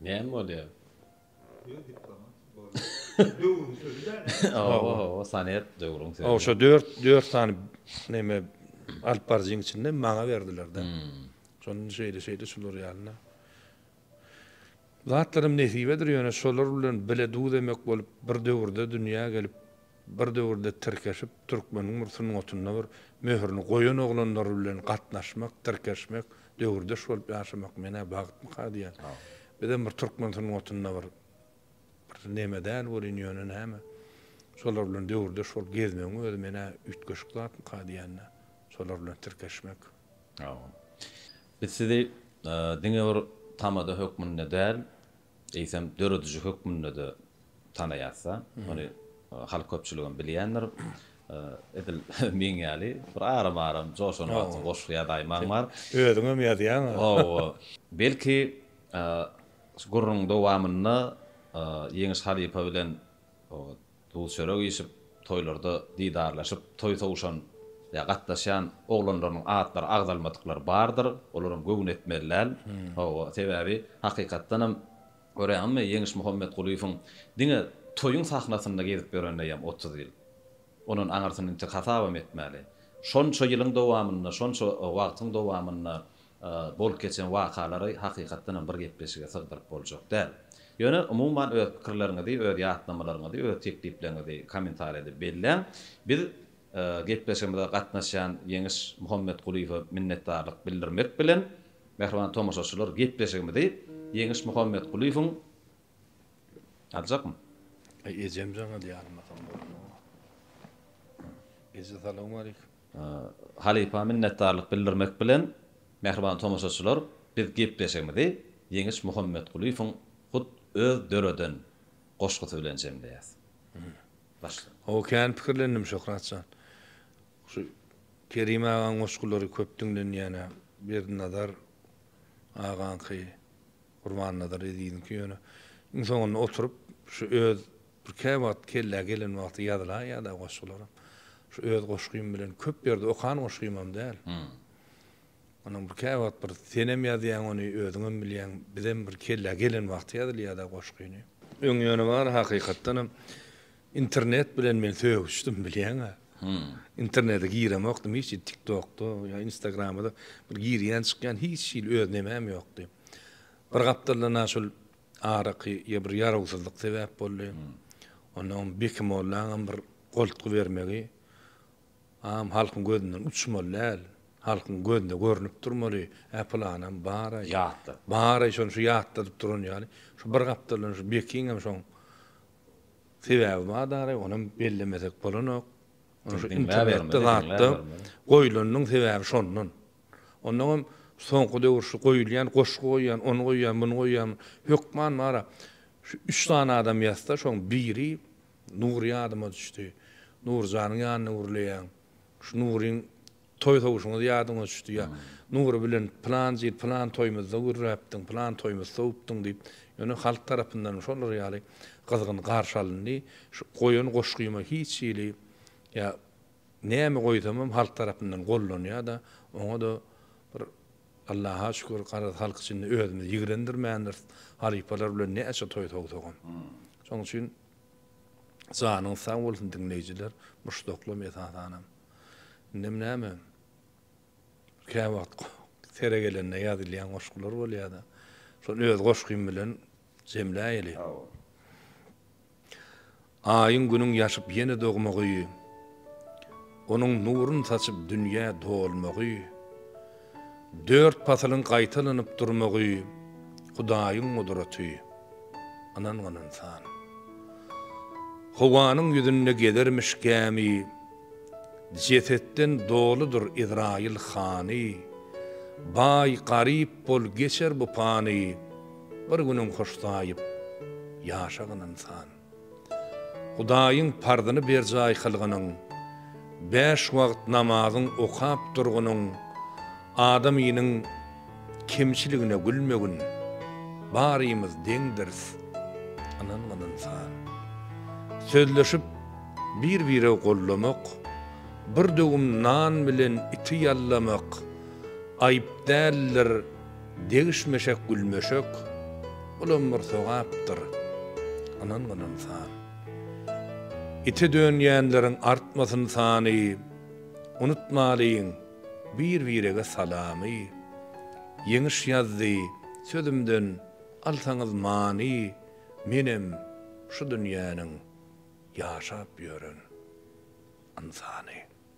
Näme bolýar? Ýöne diplomant bolýar. Döwrüň sözi däl-ä. Hawa, hawa, sonet döwrüň sözi. Oşo dört, dört sany neme alyp baryjyň içinden maňa berdiler-de. Şonda şeýle-şeýle şular ýaly-da. Zatlaram nesibedir ýöne şolar bilen bile duz emek bolup bir döwürde dünýä gelip bir döwürde tirkeşip türkmeniň bir sungatynda bir möhürini goýan oglanlar bilen gatnaşmak tirkeşmek döwürdeş bolup ýaşamak menä bagtmyka diýýän bizem bir türkmen sungatynda bir bir neme däl welin ýöne näme şolar bilen döwürdeş bolup gezmegiň özi menä üýtgeşik zatmyka diýýän-de şolar bilen tirkeşmek. Biz sizi diňe bir tamada hökmünde däl, eýsem dörediji hökmünde-de tanaýas-da. Muny halk köpçüligem bilýändir. Edil meň ýaly bir aram-aram joşan wagtyň goşgy ýazaýmaň bar. Özüňem ýazýaň-a. Hawa. Belki, şu gürrüňiň dowamynda Ýeňiş halypa bilen Duz-çörek iýşip, toýlarda didarlaşyp, toý sowuşan ýa gatnaşýan oglanlarynyň atlary agzalmadyklar bardyr. Olaram göwün etmeli däl. Hawa, sebäbi hakykatdan hem görýäňizmi, Ýeňiş Muhammetgulyýewiň diňe toýuň sahnasynda gezip ýörenine ýam otuz ýyl. Ondan aňyrsyny entek hasabam etmäli. Şonça ýylyň dowamynda, şonça wagtyň dowamynda Bolup geçen wakalary hakykatdan hem bir gepleşige sygdyryp boljak däl. Ýöne umuman öz pikirleriňizi, öz ýatlamalaryňyzy, öz teklipleriňizi kommentariýada belläň. Biz gepleşigimize gatnaşýan Ýeňiş Muhammetgulyýewe minnetdarlyk bildirmek bilen, mähriban tomaşaçylar gepleşigimizi Ýeňiş Muhammetgulyýewiň Aljakmy? Ejem jaňa diýýär, almasam bolmaz. Eje salowmaleýkim. Halypa minnetdarlyk bildirmek bilen, mähriban tomaşaçylar, biz gepleşigimizi Ýeňiş Muhammetgulyýewiň hut öz döreden goşgusy bilen jemleýäs. Başla. Hawa, kän pikirlendim, Şöhrat jan. Şu Kerim agaň goşgulary köp diňlenýän-ä. Berdinazar agaňky, Gurbannazar eziziňki ýöne iň soňunda oturyp, şu öz Bir käwagt kellä gelen wagty ýazylan ýa-da goşgularam. Şu öz goşgym bilen köp ýerde okan goşgymam däl. Onuň bir käwagt bir senem ýazýaň ony, özüňem bilýäň, bizem bir kellä gelen wagty ýazylýada goşgyny. Öň ýöne bar hakykatdanam internet bilen men sögüşdim bilýäňä. Internete giremokdym hiç hili tiktokda ýa instagramada bir girýän çykýan hiç hili öz nemäm ýokdy. Bir gapdalda na şol Araky ýa bir ýarawsyzlyk sebäp boldy. Onda oň Beki mollaňam bir goltgy bermegi am halkyň gözünden uçmaly däl. Halkyň gözüne görnüp durmaly, Ä pylanam bar-aý. Ýatda. Bar-aý şony şu ýatladyp duran ýaly. Şu bir gapdaldan şu Bekiňem şoň sebäbi bar daraý, onam bellemesek bolanok. Ony şu internetde zatda goýlanynyň sebäbi şondan. Ondan hem soňky döwür şu goýulýan, goşgy goýýan, ony goýýan, muny goýýan hökman bar-a, şu üç sany adam ýazsa, şoň biri Nury ýadyma düşdi. Nurjanyň ýanyna gürleýäň. Şu Nuryň toý sowuşyňyz ýadyňa düşdi ýa Nury bilen pylanjy ýyl pylan toýumyzda gürläpdiň, pylan toýumyz sowupdyň diýip, ýöne halk tarapyndanam şolar ýaly gyzgyn garşy alyndy. Şu goýan goşgyma hiç hili ýa Näme goýsamam halk tarapyndan gollanýada oňada bir Allaha şükür garaz halk içinde özümiz ýigrendirmändiris halypalar bilen näçe toý sowsagam. Şoň üçin janyňyz sag bolsun diňleýjiler muşdaklam esasanam. Indem näme käwagt sere gelende ýazylýan goşgular bolýada şony öz goşgym bilen Jemläýeli. Aýyň günüň ýaşyp ýene dogmagy, Onuň nurun saçyp dünýä dolmagy, Dört pasylyň gaýtalanyp durmagy, Hudaýyň gudraty, ynangan ynsan. Howanyň ýüzünde gezermiş gämi, Jesetden doludyr Izraýyl hany, Baý, garyp bol, geçer bu pany, Bir günüň hoş saýyp ýaşagyn ynsan. Hudaýyň parzyny berjaý kylgynyň, bäş wagt namazyň okap durgynyň, adamynyň kemçiligine gülmegin, barymyz deňdiris ynangyn ynsan. Sözleşip bir-bire gollamak, bir döwüm nan bilen iti ýallamak aýyp däldir, Degişmeşek gülmeşek, bulam bir sogapdyr, ynangyň ynsan. Ite dönýänleriň artmasyn sany, unutmalyň bir-birege salamy. Ýeňiş ýazdy, sözümden alsaňyz many, menem şu dünýäniň ýaşap ýören ynsany.